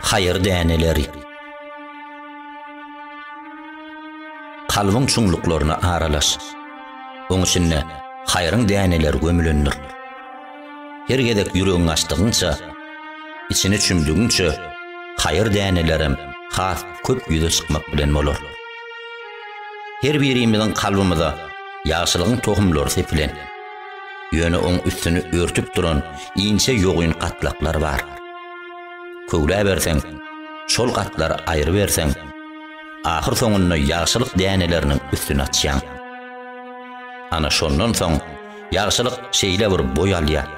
Haýyr däneleri Kalbyň çuňluklaryna aralaş. Oň içinde haýryň däneleri gömülendir. Her gezek ýüregiňi açdygyňça, içine çümdügiňçe, haýyr dänelerem has köp ýüze çykmak bilen bolar. Her birimiziň kalbymyza ýagşylygyň tohumlary sepilen, ýöne oň üstüni örtüp duran inçe ýogyn gatlaklar bar. Köwläberseň, şol gatlary aýryberseň, ahyr soňunda ýagşylyk däneleriniň üstüni açýaň. Ana şondan soň, Ýagşylyk şeýle bir boý alýar.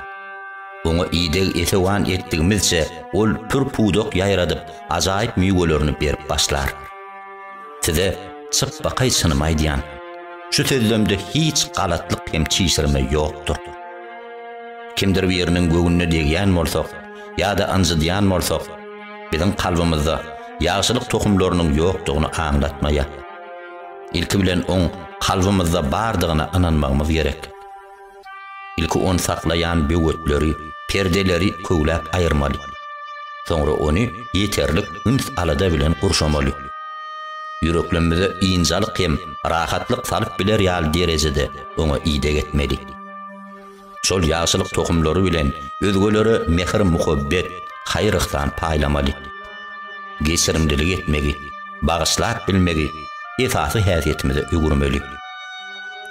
Oňa ideg-esewan etdigimizçe, ol pür-pudak ýaýradyp, ajaýyp miwelerini berip başlar. Size çypbakaý çynymy aýdýan. Şu sözlemde hiç galatlyk hem çişirme ýokdur. Kimdir biriniň göwnüne degýän bolsak ýa-da ynjydýan bolsak, biziň kalbymyzda ýagşylyk tohumlarynyň ýokdugyny aňlatmaýar. Ilki bilen oň kalbymyzda bardygyna ynanmagymyz gerek. Ilki ony saklaýan böwetleri, perdeleri köwläp aýyrmaly. Soňra ony ýeterlik üns-alada bilen gurşamaly. Ýüreklemmize ynjalyk hem rahatlyk salyp biler ýaly derejede oňa ideg etmeli. Şol ýagşylyk tohumlary bilen özgelere mähir-muhabbet, haýyr-yhsan paýlamaly. Geçirimlilik etmegi, bagyşlap bilmegi esasy häsiýetimize öwürmeli.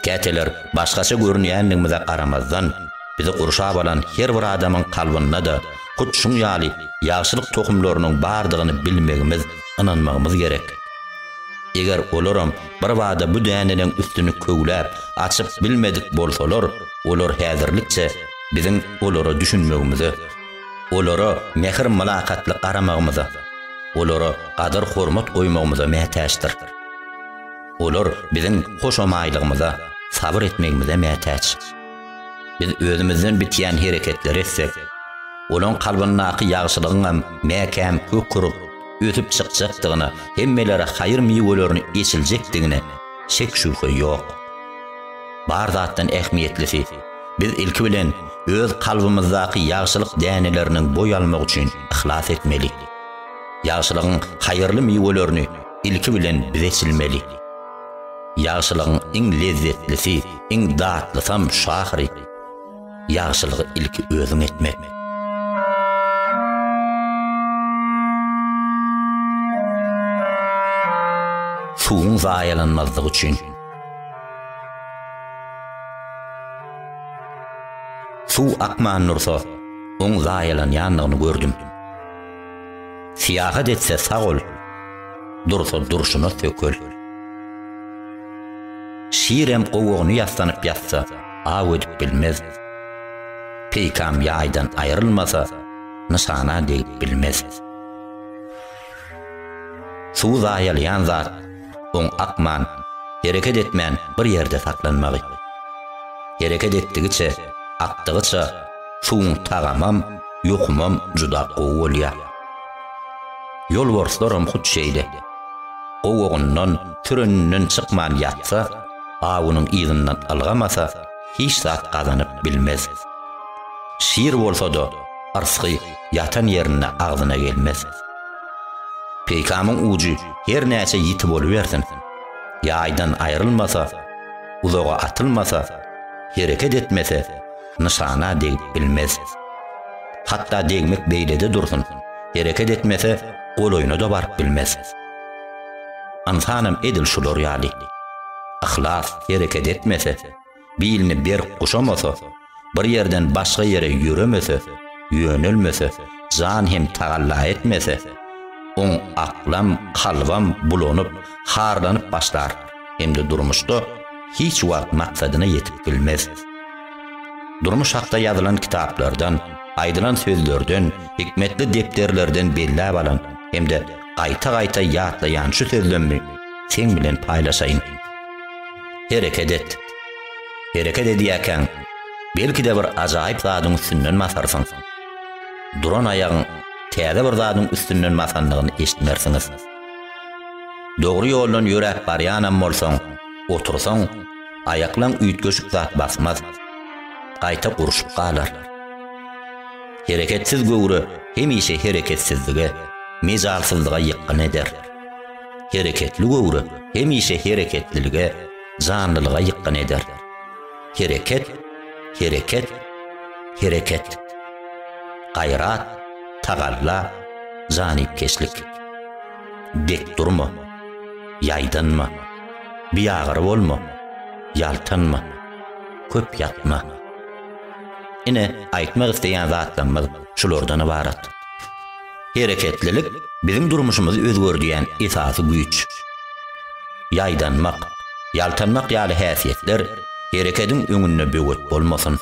Käteler başgaça görünýänligimize garamazdan, bizi gurşap alan her bir adamyň kalbynda-da hut şuň ýaly ýagşylyk tohumlarynyň bardygyny bilmegimiz, ynanmagymyz gerek. Eger olaram Birbada bu däneniň üstüni köwläp, açyp bilmedik bolsalar, olar häzirlikçe biziň olara düşünmegimize, olara mähir-mylakatly garamagymyza, olara gadyr-hormat goýmagymyza mätäçdir. Olar biziň hoşamaýlygymyza, sabyr etmegimize mätäç. Biz özümizden bitýän hereketleri etsek, olaň kalbyndaky ýagşylygyňam mäkäm kök urup, ösüp çykjakdygyna, hemmelere haýyr miwelerini eçiljekdigine şek-şübhe ýok. Bar zatdan ähmiýetlisi, biz ilki bilen öz kalbymyzdaky ýagşylyk däneleriniň boý almagy üçin yhlas etmeli. Ýagşylygyň haýyrly miwelerini ilki bilen biz eçilmeli. Ýagşylygyň iň lezzetlisi, iň datlysam şu ahyry. Ýagşylygy ilki özüň etmek. Suwuň zaýalanmazlygy üçin. Suw akman dursa, oň zaýalanýandygyny gördüm. Syýahat etse sag ol, dursa durşuna sökel. Şirem gowagyny ýassanyp ýatsa, aw edip bilmez. Peýkam ýaýdan aýrylmasa, nyşana degip bilmez. Suw zaýalýan zat, oň akman, hereket etmän bir ýerde saklanmagy. Hereket etdigiçe, akdygyça suwuň tagamam, ýokumam juda gowy bolýar. Ýolbarslaram hut şeýle. Gowagyndan, süreninden çykman ýatsa, awunyň yzyndan ylgamasa, hiç zat gazanyp bilmez. Şir bolsa-da, yrsgy ýatan ýerinde agzyna gelmez. Peýkamyň ujy her näçe ýiti bolubersin, ýaýdan aýrylmasa, uzaga atylmasa, hereket etmese, nyşana degip bilmez. Hatda degmek beýlede dursun, hereket etmese, golaýyna-da baryp bilmez. Ynsanam edil şular ýaly. Yhlas hereket etmese, bilini berk guşamasa, bir ýerden başga ýere ýöremese, ýönelmese, jan hem tagalla etmese, oň aklam, kalbam bulanyp, harlanyp başlar hem-de durmuşda hiç wagt maksadyna ýetip bilmez. Durmuş hakda ýazylan kitaplardan, aýdylan sözlerden, hikmetli depderlerden belläp alan hem-de gaýta-gaýta ýatlaýan şu sözlemmi seň bilen paýlaşaýyn. Hereket et. Hereket edýäkäň, belki-de bir ajaýyp zadyň üstünden basarsyň. Duran aýagyň täze bir zadyň üstünden basandygyny eşitmersiňiz. Dogry ýoldan ýöräp barýanam bolsaň, otursaň, aýaklaň üýtgeşik zat basmaz. Gaýta gurşup galar. Hereketsiz göwre hemişe hereketsizlige, mejalsyzlyga ýykgyn eder. Hereketli göwre hemişe hereketlilige, janlylyga ýykgyn eder. Hereket, hereket, hereket. Gaýrat, tagalla, janypkeşlik. Dik durma, ýaýdanma. Biagyry bolma, ýaltanma. Köp ýatma. Ine, aýtmak isleýän zatlarymyz şulardan ybarat. Hereketlilik biziň durmuşymyzy özgerdýän esasy güýç. Ýaýdanmak, ýaltanmak ýaly häsiýetler herekediň öňünde böwet bolmasyn.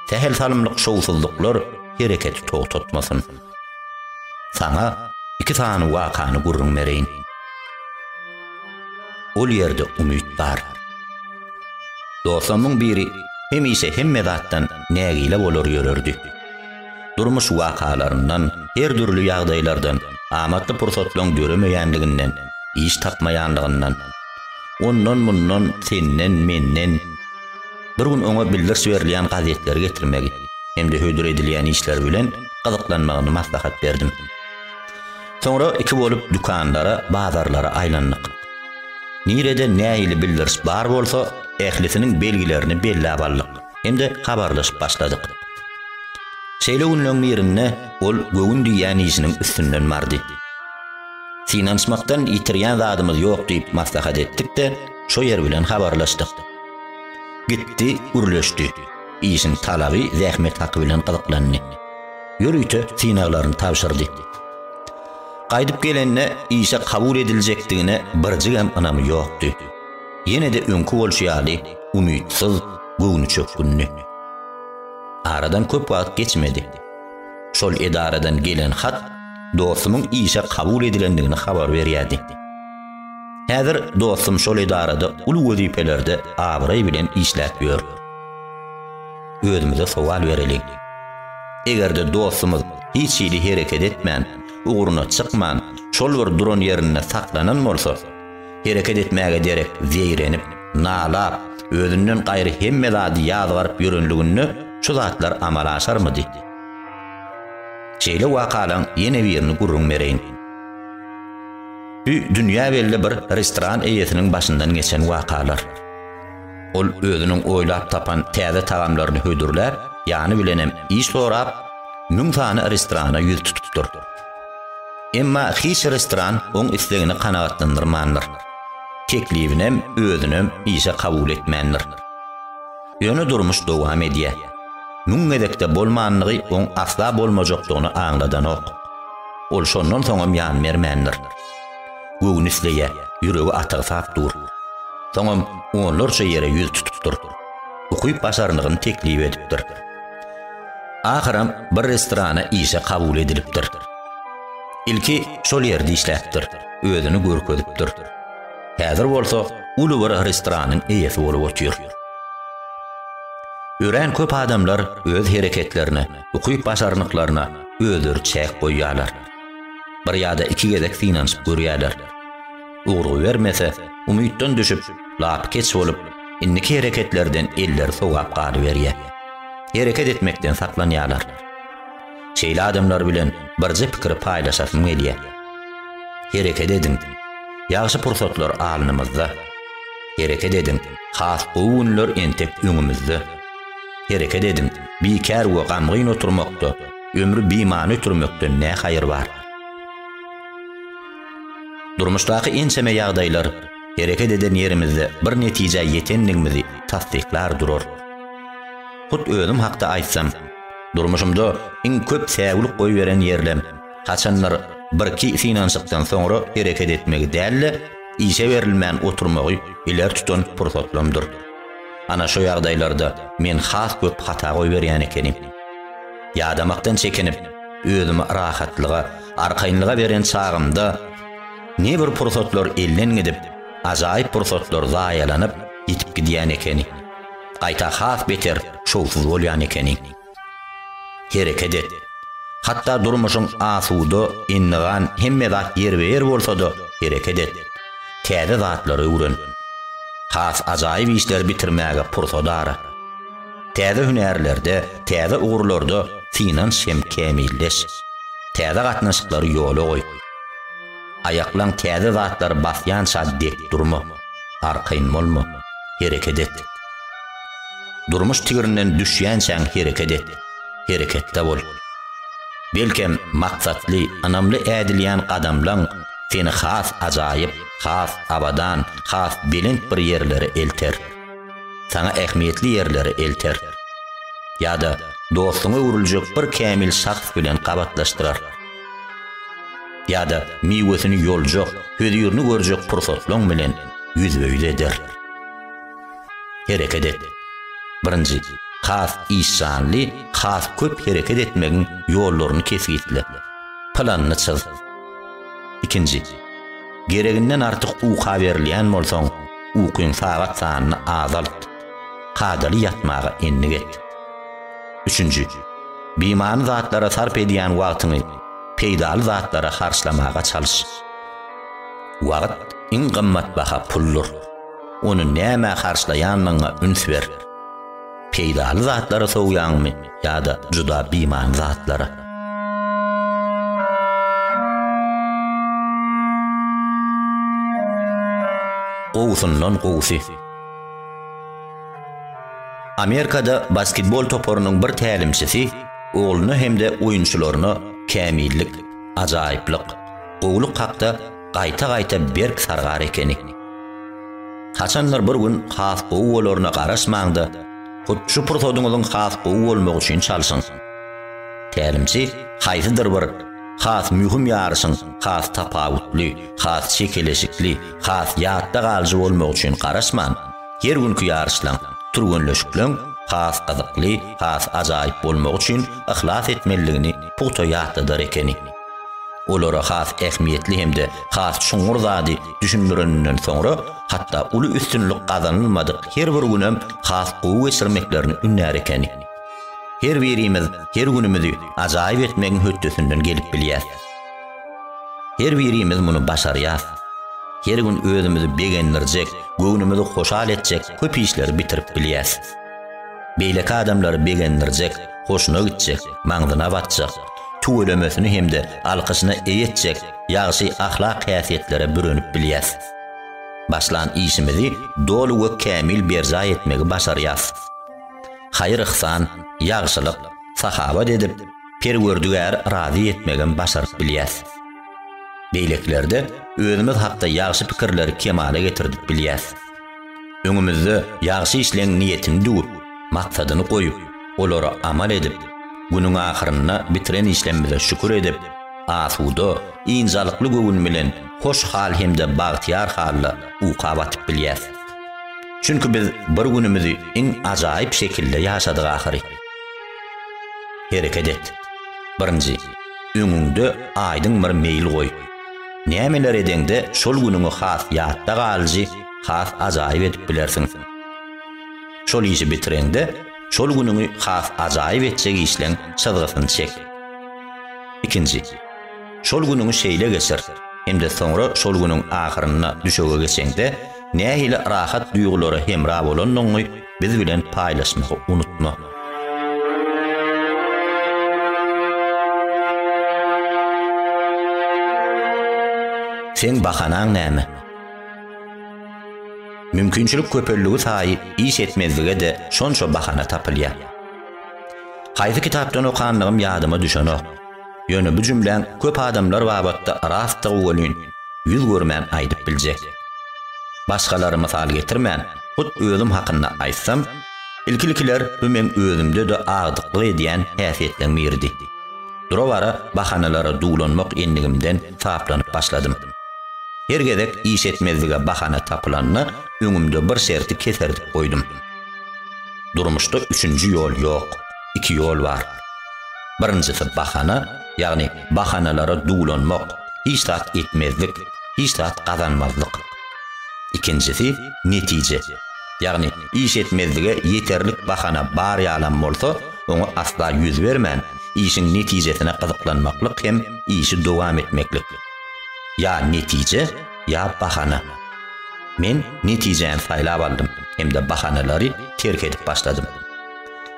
Sähel salymlyk şowsuzlyklar hereketi togtatmasyn. Saňa iki sany wakany gürrüň bereýin. Ol ýerde umyt bar. Dostumyň biri hemişe hemme zatdan nägile bolar ýörerdi. Durmuş wakalaryndan, her dürli ýagdaýlardan, amatly pursatlaryň döremeýänliginden, iş tapmaýanlygyndan, ondan-mundan, senden, menden, bir gün oňa bildiriş berilýän gazetleri getirmegi hem-de hödür edilýän işler bilen gyzyklanmagyny maslahat berdim. Soňra iki bolup dükanlara, bazarlara aýlandyk. Nirede nähili bildiriş bar bolsa, ählisiniň belgilerini belläp aldyk hem-de habarlaşyp başladyk. Şeýle günleň birinde ol göwün diýýän işiniň üstünden bardy. Synanyşmakdan ýitirýän zadymyz ýok diýip maslahat etdik-de, şo ýer bilen habarlaşdyk. Gitdi, gürleşdi. Işiň talaby, zähmet haky bilen gyzyklandy. ýörite synaglaryny tabşyrdy. Gaýdyp gelende işe kabul ediljekdigine birjigem ynamy ýokdy. Ýene-de öňki bolşy ýaly umytsyz, göwnüçökgünli. Aradan köp wagt geçmedi. Şol edaradan gelen hat dostumyň işe kabul edilendigini habar berýärdi. Häzir dostum şol edarada uly wezipelerde abraý bilen işläp ýör. özümize sowal bereliň. Eger-de dostumyz hiç hili hereket etmän, ugruna çykman, şol bir duran ýerinde saklanan bolsa, hereket etmäge derek zeýrenip, nalap, özünden gaýry hemme zady ýazgaryp ýörenliginde şu zatlar amala aşarmydy? Şeýle wakalaň ýene birini gürrüň bereýin. Dü-dünýä belli bir restoran eýesiniň başyndan geçen wakalar. Ol özüniň oýlap tapan täze tagamlaryny hödürläp, ýany bilenem iş sorap, müň sany restorana ýüz tutupdyr. Emma hiç restoran oň islegini kanagatlandyrmandyr. Teklibinem, özünem işe kabul etmändir. Ýöne durmuş dowam edýär. Müň gezekde bolmanlygy oň asla bolmajakdygyny aňladanok. Ol şondan soňam ýan bermändir. Göwni isleýär, ýüregi atygsap dur. Soňam onlarça ýere ýüz tutupdyr. Ukyp başarnygyny teklip edipdir. Ahyram bir restorana işe kabul edilipdir. Ilki şol ýerde işläpdir, özüni görkezipdir. Häzir bolsa uly bir restoranyň eýesi bolup otyr. Örän köp adamlar öz hereketlerine, ukyp başarnyklaryna özleri çäk goýýarlar. Bir ýa-da iki gezek synanyşyp görýärler. Ugurgy bermese, umytdan düşüp, lapykeç bolup, indiki hereketlerden elleri sowap galyberýär. Hereket etmekden saklanýarlar. Şeýle adamlar bilen birje pikiri paýlaşasym gelýär. Hereket ediň! Ýagşy pursatlar alnymyzda. Hereket ediň! Has gowy günler entek öňümizde. Hereket ediň! Bikär we gamgyn oturmakda Ömri bimany ötürmekden ne haýyr bar? Durmuşdaky ençeme ýagdaýlar hereket eden ýerimizde bir netijä ýetendigimizi tassyklar durar. Hut özüm hakda aýtsam, durmuşymda iň köp säwlik goýberen ýerlem, haçandyr birki synanyşykdan soňra hereket etmegi däl-de, işe berilmän oturmagy ileri tutan pursatlamdyr. Ana şu ýagdaýlarda men has köp hata goýberýän ekenim. Ýadamakdan çekinip, özümi rahatlyga, arkaýynlyga beren çagymda ne bir pursatlar elden gidip, ajaýyp pursatlar zaýalanyp, ýitip gidýän ekeni. Gaýta has beter şowsuz bolýan ekenim. Hereket et. Hatda durmuşyň asuda, endigan, hemme zat ýerbe-ýer bolsa-da, hereket et. Täze zatlary öwren. Has ajaýyp işleri bitirmäge pursat ara. Täze hünärlerde, täze ugurlarda synanş hem kämilleş. Täze gatnaşyklary ýola goý. Aýaklaň täze zatlary basýança dek durma. Arkaýyn bolma. Hereket et. Durmuş tigrinden düşýänçäň hereket et, hereketde bol. Belkem, maksatly, ynamly ädilýän gadamlaň seni has ajaýyp, has abadan, has belent bir ýerlere elter. Saňa ähmiýetli ýerlere elter. Ýa-da dostuňa öwrüljek bir kämil şahs bilen gabatlaşdyrar. Ýa-da miwesini ýoljak, hözirini görjek pursatlaň bilen ýüzbe-ýüz eder. Hereket et. Birinji, has işjanly, has köp hereket etmegiň ýollaryny kesgitle. Planyny çyz. Ikinji, gereginden artyk uka berilýän bolsaň, ukyň sagat sanyny azalt. Kadaly ýatmaga endik et. Üçünji, bimany zatlara sarp edýän wagtyňy peýdaly zatlara harçlamaga çalyş. Wagt iň gymmat baha puldyr. Ony nämä harçlaýanyňa üns ber. Peýdaly zatlara sowýaňmy ýa-da juda bimany zatlara? Gowusyndan gowusy. Amerikada basketbol toparynyň bir tälimçisi ogluna hem-de oýunçylaryna kämillik, ajaýyplyk, gowulyk hakda gaýta-gaýta berk sargar ekeni. Haçandyr bir gün has gowy bolaryna garaşmaň-da, hut şu pursadyňyzyň has gowy bolmagy üçin çalşyň. Tälimçi haýsydyr bir has möhüm ýaryşyň has tapawutly, has çekeleşikli, has ýatda galyjy bolmagy üçin garaşman, her günki ýaryşlaň, türgenleşikleriň has gyzykly, has ajaýyp bolmagy üçin yhlas etmelidigini pugta ýatladar ekeni. Olara has ähmiýetli hem-de has çuňňur zady düşündireninden soňra, hatda uly üstünlik gazanylmadyk her bir günem has gowy geçirmeklerini ündär ekeni. Her birimiz her günümizi ajaýyp etmegiň hötdesinden gelip bilýäs. Her birimiz muny başarýas. Her gün özümizi begendirjek, göwnümizi hoşal etjek köp işleri bitirip bilýäs. Beýleki adamlary begendirjek, hoşuna gitjek, maňzyna batjak, tüwelemesini hem-de alkyşyna eýe etjek ýagşy ahlak häsiýetlere bürenip bilýäs. Başlan işimizi doly we kämil berjaý etmegi başarýas. Haýyr-yhsan, ýagşylyk, sahawat edip, Perwerdigäri razy etmegem başaryp bilýäs. Beýlekilerde özümiz hakda ýagşy pikirleri kemala getirdip bilýäs. Öňümizde ýagşy işleň niýetini düwüp, maksadyny goýup, olary amal edip, günüň ahyrynda bitiren işlemmize şükür edip, asuda, ynjalykly göwün bilen hoş hal hem-de bagtyýar halda uka batyp bilýäs. Çünki biz bir günümizi iň ajaýyp şekilde ýaşadyk ahyry. Hereket et. Birinji, öňüňde aýdyň bir meýil goý. Nämeler edeňde şol günüňi has ýatda galyjy, has ajaýyp edip bilersiň. Şol işi bitireňde, şol günüňi has ajaýyp etjek işleň çyzgysyny çek. Ikinji. Şol günüňi şeýle geçir, hem-de soňra şol günüň ahyrynda düşege geçeňde, nähili rahat duýgulara hemra bolandygyňy biz bilen paýlaşmagy unutma. Seň bahanaň näme? Mümkinçilik köpelligi saýy iş etmezlige-de şonça bahana tapylýar. Haýsy kitapdan okandygym ýadyma düşenok. Ýöne bu jümläň köp adamlar babatda rastdygy welin, ýüz görmän aýdyp biljek. Başgalary mysal getirmän, hut özüm hakynda aýtsam, ilki-ilkiler bu meň özümde-de agdyklyk edýän häsiýetleň biridi. Dura-bara bahanalara duwlanmak endigimden taplanyp başladym. Her gezek iş etmezlige bahana tapylanda öňümde bir şerti keserdip goýdum. Durmuşda üçünji ýol ýok, iki ýol bar. Birinjisi bahana, ýagny bahanalara duwlanmak, hiç zat etmezlik, hiç zat gazanmazlyk. Ikinjisi netije, ýagny iş etmezlige ýeterlik bahana bar ýalam bolsa, oňa asla ýüz bermän, işiň netijesine gyzyklanmaklyk hem işi dowam etmeklik. Ýa netije, ýa bahana. Men netijäni saýlap aldym hem-de bahanalary terk edip başladym.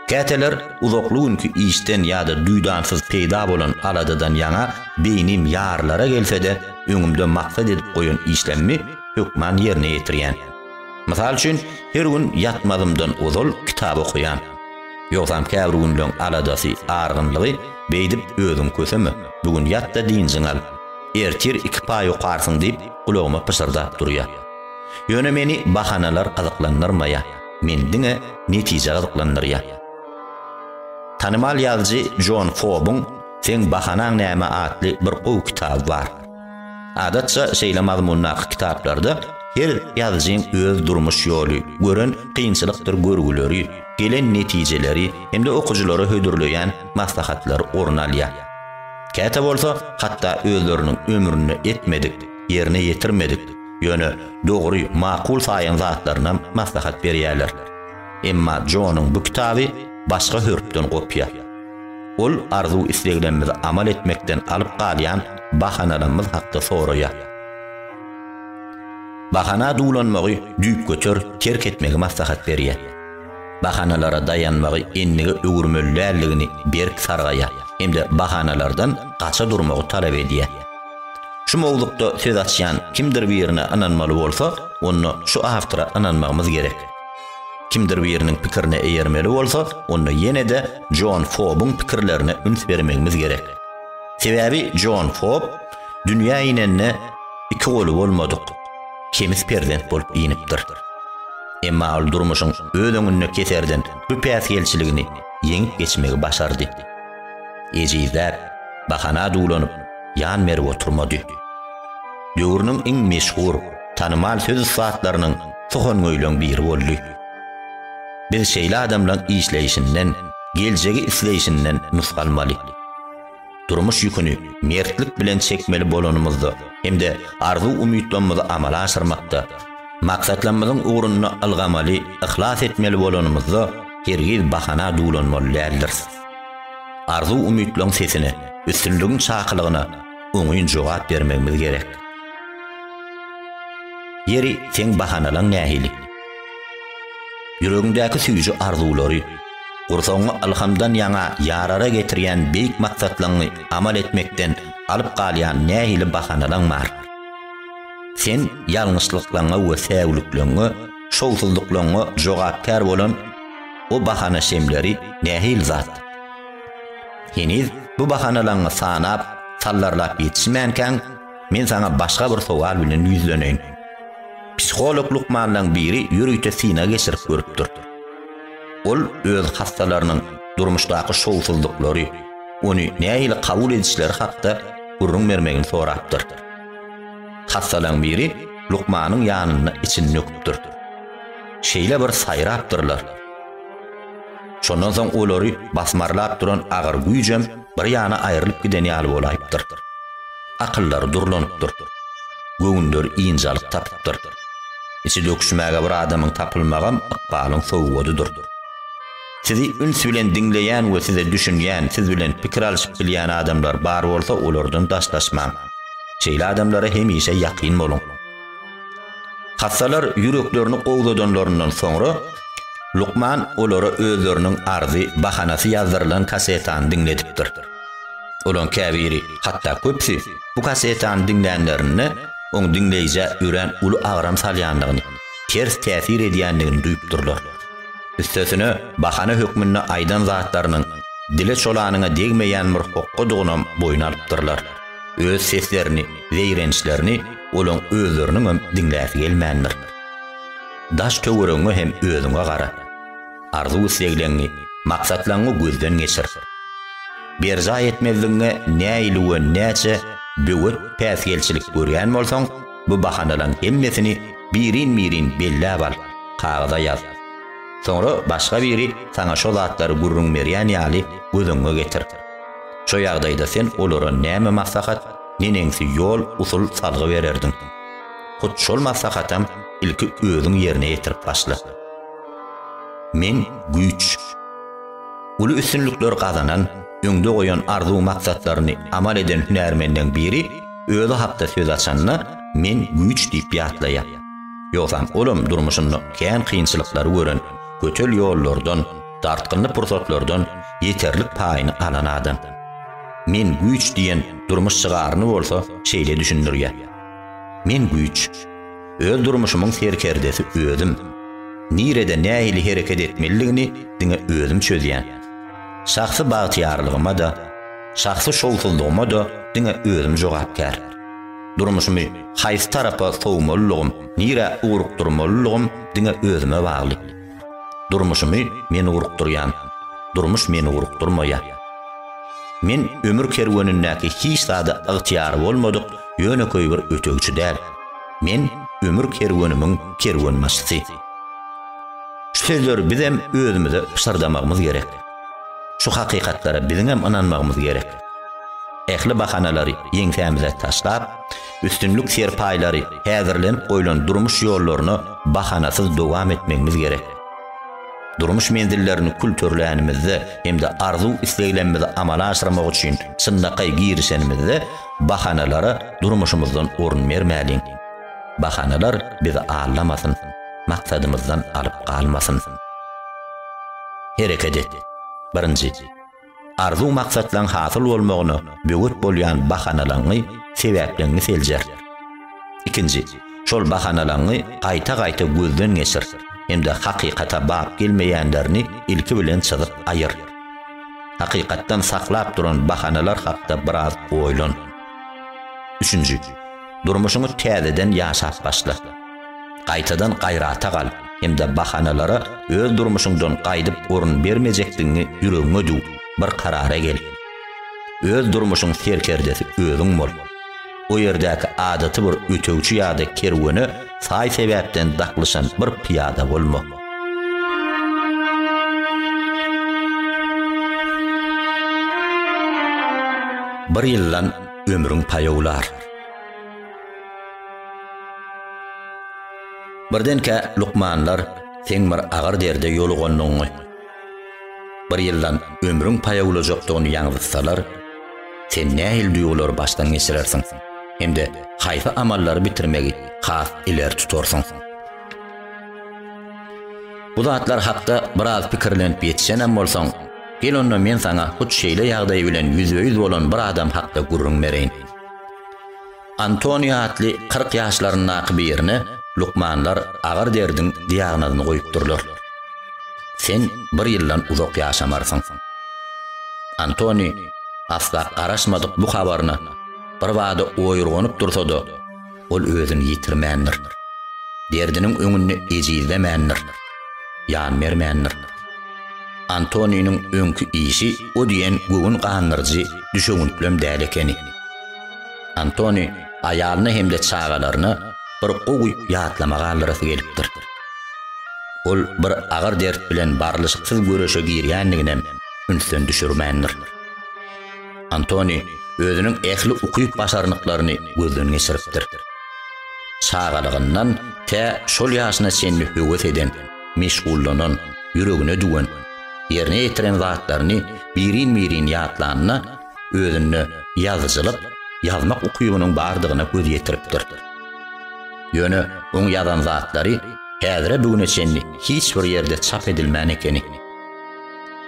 Käteler uzakly günki işden ýa-da duýdansyz peýda bolan aladadan ýaňa beýnim ýarylara gelse-de, öňümde maksat edip goýan işlemmi hökman ýerine ýetirýän. Mysal üçin, her gün ýatmazymdan ozal kitap okaýan. Ýogsam käbir günleň aladasy, argynlygy beýdip özüň köseme, bu gün ýat-da dynjyňy al. Ertir iki paý okarsyň diýip gulagyma pyşyrdap durýa. Ýöne meni bahanalar gyzyklandyrmaýa, meni diňe netije gyzyklandyrýa. Tanymal ýazyjy Jon Fobuň Seň bahanaň näme atly bir gowy kitaby bar. Adatça, şeýle mazmundaky kitaplarda her ýazyjyň öz durmuş ýoly, gören kynçylykdyr görgüleri, gelen netijeleri hem-de okyjylara hödürleýän maslahatlary orun alýar. Käte bolsa, hatda özleriniň ömründe etmedik, ýerine ýetirmedik, ýöne dogry, makul saýan zatlarynam maslahat berýärler. Emma Jonyň bu kitaby başga hörpden kopýa. Ol arzuw-isleglerimizi amal etmekden alyp galýan bahanalarymyz hakda soraýar. Bahana duwlanmagy düýpgöter terk etmegi maslahat berýär. Bahanalara daýanmagy endige öwürmeli däldigini berk sargaýar hem-de bahanalardan gaça durmagy talap edýär. Şu mowzukda söz açýan kimdir birine ynanmaly bolsak, onda şu awtora ynanmagymyz gerek. Kimdir biriniň pikirine eýermeli bolsak, onda ýene-de Jon Fobuň pikirlerine üns bermegimiz gerek. Sebäbi Jon Fob dünýä inende iki goly bolmadyk, kemis perzent bolup inipdir. Emma ol durmuşyň öz öňünde keserden bu päsgelçiligini ýeňip geçmegi başardy. Ejizläp, bahana duwlanyp, ýan berip oturmady. Döwrüniň iň meşhur, tanymal söz ussatlarynyň Suhangöýleň biri boldy. Biz şeýle adamlaň işleýşinden, geljegi isleýşinden nusga almaly. Durmuş ýüküni mertlik bilen çekmeli bolanymyzda hem-de arzuw-umytlamyzy amala aşyrmakda, maksatlamyzyň ugrunda ylgamaly, yhlas etmeli bolanymyzda hergiz bahana duwlanmaly däldiris. Arzuw-umytlaň sesine, üstünligiň çakylygyna, oňyn jogap bermegimiz gerek. Ýeri, seň bahanalaň nähili? Ýüregiňdäki süýji arzuwlary, gursagyňy ylhamdan ýaňa ýarara getirýän beýik maksatlaňňy amal etmekden alyp galýan nähili bahanalaň bar? Sen ýalňyşlyklaňňa we säwlikleňňe, şowsuzlyklaňňa jogapkär bolan o bahana şemleri nähili zat? Heniz bu bahanalaňňy sanap, sallarlap ýetişmänkäň, men saňa başga bir sowal bilen ýüzleneýin. Psiholog lukmanlaň biri ýörite synag geçirip görüpdir. Ol öz hassalarynyň durmuşdaky şowsuzlyklary, ony nähili kabul edişleri hakda gürrüň bermegini sorapdyr. Hassalaň biri lukmanyň ýanynda içini döküpdir. Şeýle bir saýrapdyrlar. Şondan soň olary basmarlap duran agyr güýjem bir ýana aýrylyp giden ýaly bolaýypdyr. Akyllary durlanypdyr. Göwünleri ynjalyk tapypdyr. Içi döküşmäge bir adamyň tapylmagam ykbalyň sowgadydyr. Sizi üns bilen diňleýän we size düşünýän, siz bilen pikir alşyp bilýän adamlar bar bolsa olardan daşlaşmaň. Şeýle adamlara hemişe ýakyn boluň. Hassalar ýüreklerini gowzadanlaryndan soňra, lukman olara özleriniň arzy, bahanasy ýazdyrylan kasetany diňledipdir. Olaryň käbiri, hatda köpüsi bu kasetany diňlänlerinde, oň diňleýjä örän uly agram salýandygyny, ters täsir edýändigini duýupdyrlar. Üstesine, bahana hökmünde aýdan zatlarynyň dile-çolanyňa degmeýän bir hokgadygynam boýun alypdyrlar. Öz seslerini, zeýrençlerini olaň özleriniňem diňläsi gelmändir. Daş-töweregiňe hem özüňe gara. Arzuw-islegleňňi, maksatlaňňy gözden geçir. Berjaý etmezligiňe nähili we näçe böwet päsgelçilik görýän bolsaň, bu bahanalaň hemmesini birin-birin belläp al, kagyza ýaz. Soňra başga biri saňa şo zatlary gürrüň berýän ýaly gözüňňe getir. Şo ýagdaýda sen olara näme maslahat, neneňsi ýol, usul, salgy bererdiň? Hut şol maslahatam ilki özüň ýerine ýetirip başla. Men güýç. Uly üstünlikler gazanan, öňde goýan arzuw-maksatlaryny amal eden hünärmenleň biri özi hakda söz açanda Men güýç diýip ýatlaýar. Ýogsam olam durmuşynda kän kynçylyklary gören, götel ýollardan, Dartgynly pursatlardan ýeterlik paýyny alan adam. Men güýç diýen durmuş şygaryny bolsa şeýle düşündirýär. Men güýç. Öz durmuşymyň serkerdesi özüm. Nirede nähili hereket etmelidigini diňe özüm çözýän. Şahsy bagtyýarlygyma-da, şahsy şowsuzlygyma-da diňe özüm jogapkär. Durmuşymy haýsy tarapa sowmalylygym, nirä ugrukdyrmalylygym diňe özüme bagly. Durmuşymy men urukdyrýan, durmuş meni urukdyrmaýar. Men ömür kerwenindäki hiç zada ygtyýary bolmadyk ýönekeý bir ötegçi däl. Men ömür kerwenimiň kerwenbaşysy. Şu sözleri bizem özümize pyşyrdamagymyz gerek. Şu hakykatlara biziňem ynanmagymyz gerek. Ähli bahanalary ýeňsämize taşlap, Üstünlik serpaýlary häzirlenip goýlan durmuş ýollaryna bahanasyz dowam etmegimiz gerek. Durmuş menzillerini kül törlänimizde hem-de arzuw-isleglemmizi amala aşyrmak üçin çynlakaý girişenimizde bahanalara durmuşymyzdan orun bermäliň. Bahanalar bizi aldamasyn, maksadymyzdan alyp galmasyn. Hereket et! Birinji. arzuw-maksatlaň hasyl bolmagyna böwet bolýan bahanalaňňy, sebäpleňňi seljer. Ikinji, şol bahanalaňňy gaýta-gaýta gözden geçir hem-de hakykata bap gelmeýänlerini ilki bilen çyzyp aýyr. Hakykatdan saklap duran bahanalar hakda biraz oýlan. Üçünji, durmuşyňy täzeden ýaşap başla. Gaýtadan gaýrata gal hem-de bahanalara öz durmuşyňdan gaýdyp orun bermejekdigiňi ýüregiňe düw, bir karara gel. Öz durmuşyň serkerdesi özüň bol. O ýerdäki adaty bir ötegçi ýa-da kerwene saý-sebäpden daklyşan bir pyýada bolma. Bir ýyldan ömrüň paýawlar. Birdenkä lukmanlar seň bir agyr derde ýolugandygyňy, bir ýyldan ömrüň paýawlajakdygyny ýaňzytsalar, sen nähili duýgulary başdan geçirersiň hem-de haýsy amallary bitirmegi has ileri tutarsyň? Bu zatlar hakda biraz pikirlenip ýetişenem bolsaň, gel onda men saňa hut şeýle ýagdaý bilen ýüzbe-ýüz bolan bir adam hakda gürrüň bereýin. Antonio atly kyrk ýaşlaryndaky birine lukmanlar agyr derdiň diagnozyny goýupdyrlar. Sen bir ýyldan uzak ýaşamarsyň. Antoni asla garaşmadyk bu habaryna birbada oýurganyp dursa-da, ol özüni ýitirmändir. Derdiniň öňünde ejizlemändir. Ýan bermändir. Antoniniň öňki işi o diýen göwün gandyryjy düşewüntlem däl ekeni. Antoni aýalyna hem-de çagalaryna bir gowy ýatlama galdyrasy gelipdir. Ol bir agyr dert bilen barlyşyksyz göreşe girýändiginem ünsden düşürmändir. Antoni özüniň ähli ukyp-başarnyklaryny gözden geçiripdir. Çagalygyndan tä şol ýaşyna çenli höwes eden, meşgullanan, ýüregine düwen, ýerine ýetiren zatlaryny birin-birin ýatlanyna, özünde ýazyjylyk ýazmak ukybynyň bardygyna göz ýetiripdir. Ýöne oň ýazan zatlary häzire bu güne çenli hiç bir ýerde çap edilmän ekeni.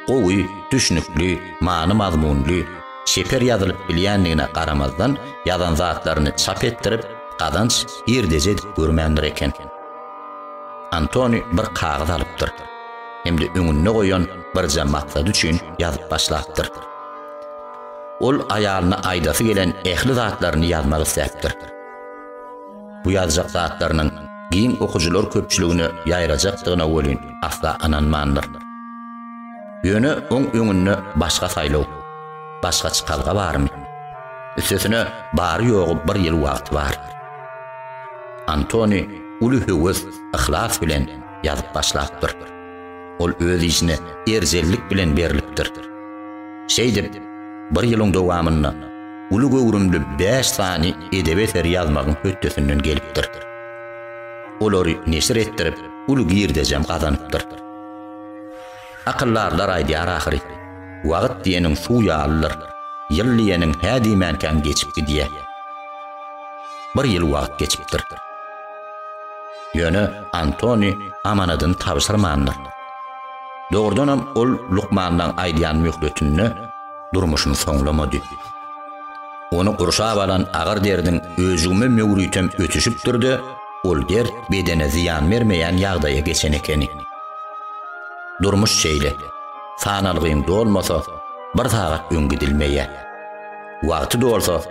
Gowy, düşnükli, many-mazmunly, çeper ýazylyp bilýändigine garamazdan ýazan zatlaryny çap etdirip gazanç girdeji edip görmändir eken. Antoni bir kagyz alypdyr. Hem-de öňünde goýan birje maksady üçin ýazyp başlapdyr. Ol aýalyna aýdasy gelen ähli zatlaryny ýazmak isläpdir. Bu ýazjak zatlarynyň giň okyjylar köpçüligine ýaýrajakdygyna welin asla ynanmandyr. Ýöne oň öňünde başga saýlaw, başga çykalga barmy? Üstesine bary-ýogy bir ýyl wagty bar. Antoni uly höwes, yhlas bilen ýazyp başlapdyr. Ol öz işine erjellik bilen berlipdir. Şeýdip, bir ýylyň dowamynda uly göwrümli bäş sany edebi eseri ýazmagyň hötdesinden gelipdir. Olary neşir etdirip, uly girdejem gazanypdyr. Akyldarlar aýdýar ahyry, Wagt diýeniň suw ýalydyr, ýyl diýeniň hä diýmänkäň geçip gidýär. Bir ýyl wagt geçipdir. Ýöne Antoni amanadyny tabşyrmandyr. Dogrudanam, ol lukmanlaň aýdýan möhletinde durmuşyny soňlamady. Ony gurşap alan agyr derdiň öjügime möwrütem ötüşipdir-de, ol dert bedene zyýan bermeýän ýagdaýa geçen ekeni. Durmuş şeýle, sanalgyň dolmasa, bir sagat öň gidilmeýär. Wagty dolsa,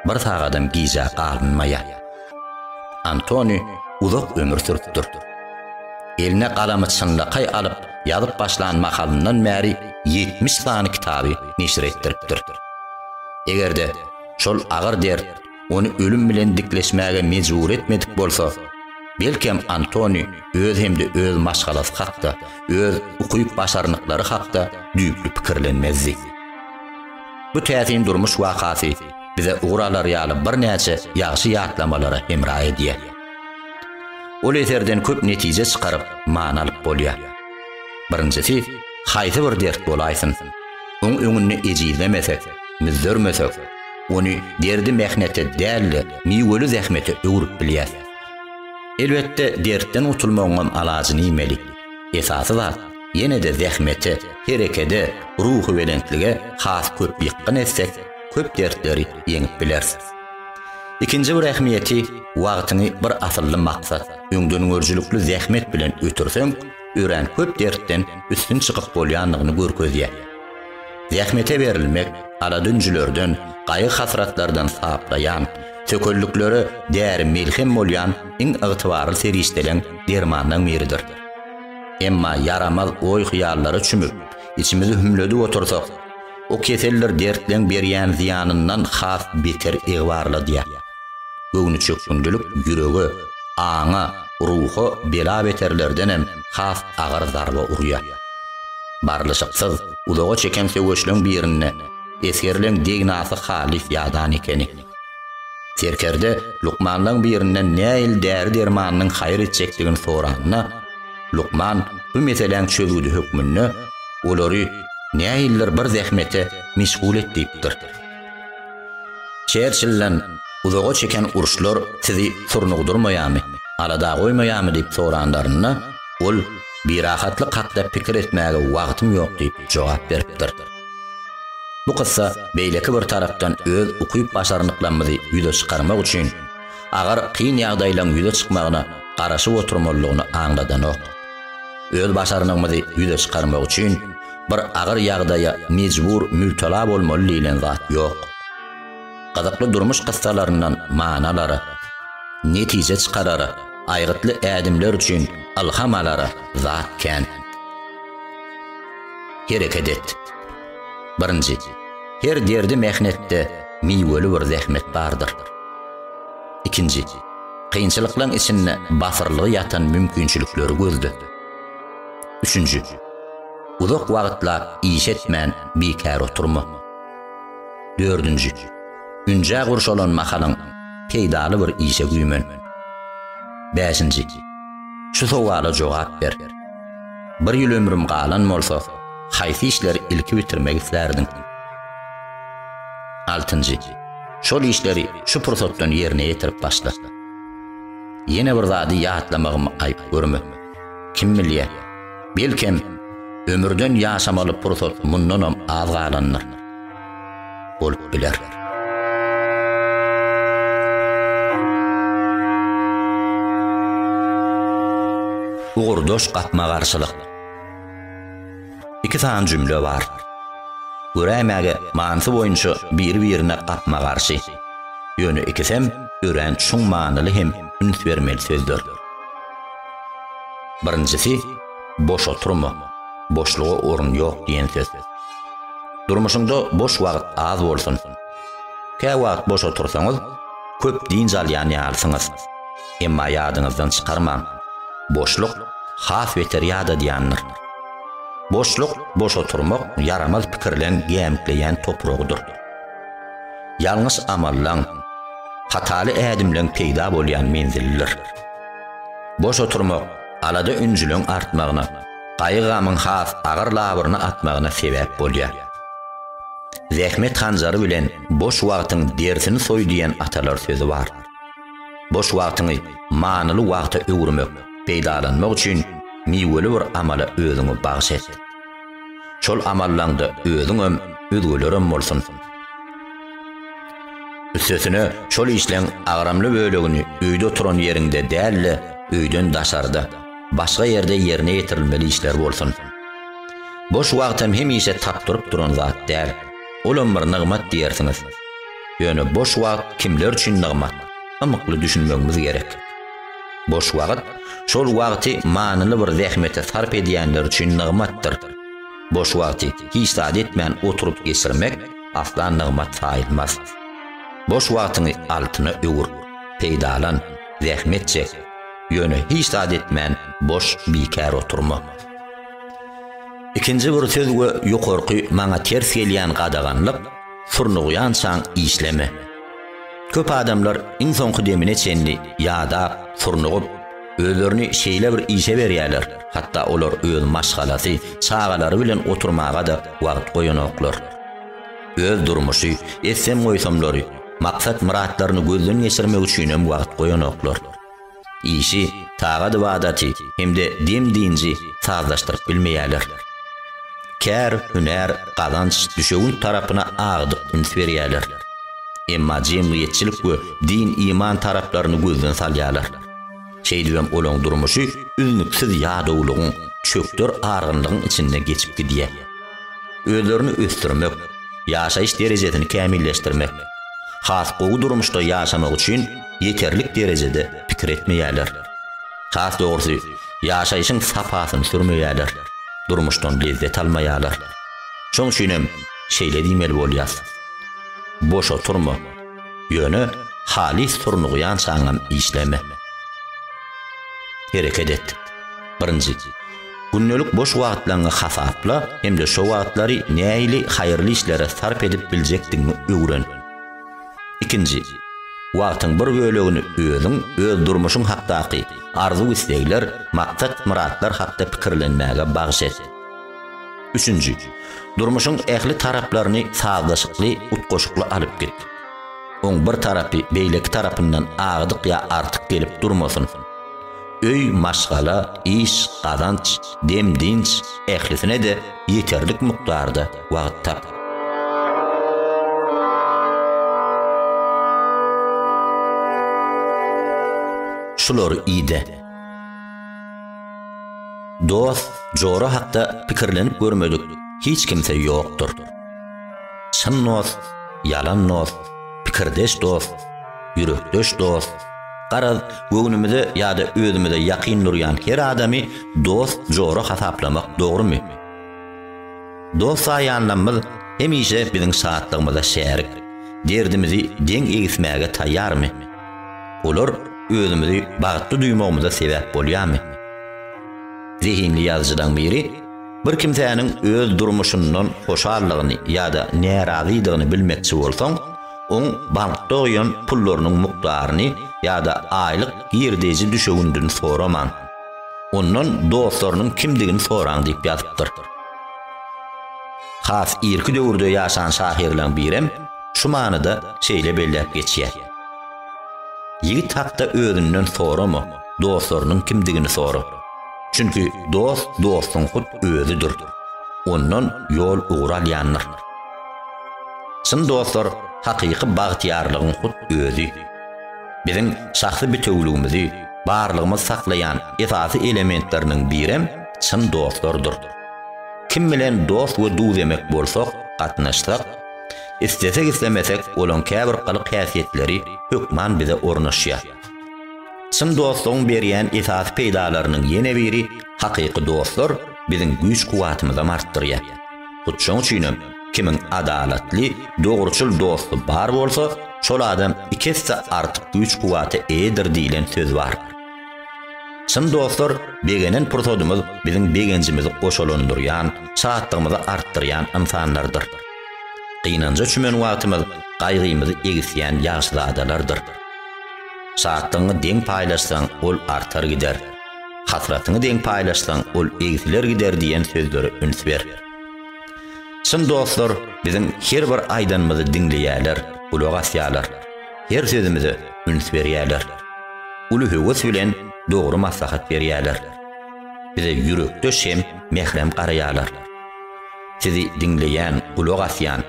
bir sagadam gijä galynmaýar. Antoni uzak ömür sürüpdir. Eline galamy çynlakaý alyp ýazyp başlan mahalyndan bäri ýetmiş sany kitaby neşir etdiripdir. Eger-de şol agyr dert ony ölüm bilen dikleşmäge mejbur etmedik bolsa, belkem Antoni öz hem-de öz maşgalasy hakda, öz ukyp-başarnyklary hakda düýpli pikirlenmezdi. Bu täsin durmuş wakasy bize ugur alar ýaly birnäçe ýagşy ýatlamalara hemra edýär. Ol eserden köp netije çykaryp, many alyp bolýar. Birinjisi, haýsy bir dert bolaýsyn, oň öňünde ejizlemesek, müzzermesek, ony derdi-mähnete däl-de, miweli zähmete öwrüp bilýäs. Elbetde, dertden gutulmagyňam alajyny iýmeli. Esasy zat, ýene-de zähmete, herekede, ruhubelentlige has köp ýykgyn etsek, köp dertleri ýeňip bileris. Ikinji bir ähmiýeti, wagtyňy bir asylly maksat, öňdengörüjilikli zähmet bilen ötürseň, örän köp dertden üstün çykyp bolýandygyny görkezýär. Zähmete berilmek aladünjülerden, gaýgy-hasratlardan saplaýan, tökelliklere däri-melhem bolýan iň ygtybarly serişdeleň dermanlaň biridir. Emma ýaramaz oý-hyýallara çümüp, içimizi hümledip otursak, o keseldir dertleň berýän zyýanyndan has beter egbarladýar. Göwnüçökgündilik ýürege, aňa, ruha bela-beterlerdenem has agyr zarba urýar. Barlyşyksyz, uzaga çeken söweşleň birinde esgerleň degnasy halys ýadan ekeni. Serkerde lukmanlaň birinden näil däri-dermanynyň haýyr etjekdigini soranda, lukman bu meseläň çözgüdi hökmünde olary näildir bir zähmete meşgul et diýipdir. Çerçilden, Uzaga çeken uruşlar sizi surnugdyrmaýarmy, alada goýmaýarmy diýip soranlarynda, ol, Birahatlyk hakda pikir etmäge wagtym ýok diýip jogap beripdir. Bu kyssa beýleki bir tarapdan öz ukyp-başarnyklarymyzy ýüze çykarmak üçin, agyr, kyn ýagdaýlaryň ýüze çykmagyna garaşyp oturmalydygyny aňladanok. Öz başarnygymyzy ýüze çykarmak üçin bir agyr ýagdaýa mejbur mübtela bolmaly diýlen zat ýok. Gyzykly durmuş kyssalaryndan many alara, netije çykarara, aýgytly ädimler üçin ylham alara zat kän. Hereket et. Birinji, her derdi-mehnetde miweli bir zähmet bardyr. Ikinji, kynçylyklaryň içinde batyrlygy ýatan mümkinçilikleri gözle. Üçünji, uzak wagtlap iş etmän bikär oturma. Dördünji, ünjä gurşalan mahalyň peýdaly bir işe güýmen. Bäşinji, şu sowala jogap ber, Bir ýyl ömrüm galan bolsa, haýsy işleri ilki bitirmek islärdiň? Altynjy, Şol işleri şu pursatdan ýerine ýetirip başla. Ýene bir zady ýatlamagymy aýyp görme. Kim bilýär, belkem, ömürden ýaşamaly pursat mundanam az galandyr. Bolup biler. ugurdaş gapma-garşylyk. iki sany jümle bar. Göräýmäge manysy boýunça biri-birine gapma-garşy. Ýöne ikisem örän çuň manyly hem üns bermeli sözler. Birinjisi, Boş oturma, boşluga orun ýok diýen söz. Durmuşyňda boş wagt az bolsun. Käwagt boş otursaňyz, köp dynç alýan ýalysyňyz. Emma ýadyňyzdan çykarmaň, boşluk has beter ýadadýandyr. Boşluk boş oturmak ýaramaz pikirleň gämikleýän topragydyr. Ýalňyş amallaň, hataly ädimleň peýda bolýan menzilidir. Boş oturmak alada-ünjüleň artmagyna, gaýgy-gamyň has agyr labyryny atmagyna sebäp bolýar. Zähmet hanjary bilen boş wagtyň derisini soý diýen atalar sözi bar. Boş wagtyňy manyly wagta öwürmek, peýdalanmak üçin miweli bir amala özüňi bagyş et. Şol amallaňda özüňem, özgelerem bolsun. Üstesine, şol işleň agramly bölegini öýde oturan ýeriňde däl-de, öýden daşarda, başga ýerde ýerine ýetirilmeli işler bolsun. Boş wagtam hemişe tapdyryp duran zat däl. Olam bir nygmat diýersiňiz. Ýöne boş wagt kimler üçin nygmat? Ymykly düşünmegimiz gerek. Boş wagt, şol wagty manyly bir zähmete sarp edýänler üçin nygmatdyr. Boş wagty hiç zat etmän oturyp geçirmek asla nygmat saýylmaz. Boş wagtyňy altyna öwür, peýdalan, zähmet çek. Ýöne hiç zat etmän boş, bikär oturma. Ikinji bir söz we ýokarky maňa ters gelýän gadaganlyk, Surnugýançaň işleme. Köp adamlar iň soňky demine çenli ýadap, surnugyp, özlerini şeýle bir işe berýärler, hatda olar öz maşgalasy, çagalary bilen oturmaga-da wagt goýanoklar. Öz durmuşy, etsem-goýsamlary, maksat-myratlaryny gözden geçirmek üçinem wagt goýanoklar. işi, tagat-ybadaty hem-de dem-dynjy sazlaşdyryp bilmeýärler. Kär, hünär, gazanç, düşewünt tarapyna agdyk üns berýärler. Emma jemgyýetçilik we din-iman taraplaryny gözden salýarlar. Şeýdibem olaň durmuşy üznüksiz ýadawlygyň, çökder argynlygyň içinde geçip gidýär. Özlerini ösdürmek, ýaşaýyş derejesini kämilleşdirmek, has gowy durmuşda ýaşamak üçin, ýeterlik derejede pikir etmeýärler. Has dogrusy, ýaşaýşyň sapasyny sürmeýärler, durmuşdan lezzet almaýarlar. Şoň üçinem şeýle diýmeli bolýas. Boş oturma, ýöne halys turnugýançaňam işleme. Hereket et. Birinji, gündelik boş wagtlaňňy hasapla hem-de şo wagtlary näili haýyrly işlere sarp edip biljekdigiňi öwren. Ikinji, wagtyň bir bölegini özüň, öz durmuşyň hakdaky arzuw-islegler, maksat-myratlar hakda pikirlenmäge bagyş et. Üçünji, durmuşyň ähli taraplaryny sazlaşykly, utgaşykly alyp git. Oň bir tarapy beýleki tarapyndan agdyk ýa artyk gelip durmasyn. Öý, maşgala, iş, gazanç, dem-dynç, ählisine-de ýeterlik mukdarda wagt tap. Şulary ide. Dost, jora hakda pikirlenip görmedik hiç kimse ýokdur. Çyn dost, ýalan dost, pikirdeş dost, ýürekdeş dost, Garaz, göwnümize ýa-da özümize ýakyn durýan her adamy dost, jora hasaplamak dogrumy? Dost saýýanlamyz hemişe biziň şatlygymyza şärik, derdimizi deň egismäge taýýarmy? Olar özümizi bagtly duýmagymyza sebäp bolýarmy? Zehinli ýazyjylaň biri, Bir kimsäniň öz durmuşyndan hoşaldygyny ýa-da närazydygyny bilmekçi bolsaň, oň bankda goýan pullarynyň mukdaryny ýa-da aýlyk girdeýji düşewündini soramaň. Ondan dostlarynyň kimdigini soraň diýip ýazypdyr. Has irki döwürde ýaşan şahyrlaň birem şu manyda şeýle belläp geçýär. Ýigit hakda özünden sorama, dostlarynyň kimdigini sora. Çünki dost dostuň hut özüdir. Ondan ýol-ugur alýandyr. Çyn dostlar, hakyky bagtyýarlygyň hut özi. Biziň şahsy bitewüligimizi, barlygymyzy saklaýan esasy elementleriniň birem çyn dostlardyr. Kim bilen dost we duzemek bolsak, gatnaşsak, islesek-islemesek olaň käbir gylyk-häsiýetleri hökman bize ornaşýar. Çyn dostlugyň berýän esasy peýdalarynyň ýene biri hakyky dostlar biziň güýç-kuwatymyzam artdyrýar. Hut şoň üçin hem kimiň adalatly, dogruçyl dosty bar bolsa, şol adam iki esse artyk güýç-kuwwata eýedir diýlen söz bar. Çyn dostlar begenen pursadymyz biziň begenjimizi goşalandyrýan, şatlygymyzy artdyrýan ynsanlardyr. Gynanja çümen wagtymyz gaýgymyzy egisýän ýagşyzadalardyr. Şatlygyňy deň paýlaşsaň, ol artar gider. Hasratyňy deň paýlaşsaň, ol egsiler gider diýen sözlere üns ber. Çyn dostlar biziň her bir aýdanymyzy diňleýärler, gulak asýarlar. Her sözümize üns berýärler. Uly höwes bilen dogry maslahat berýärler. Bize ýürekdeş hem mährem garaýarlar. Sizi diňleýän, gulak asýan,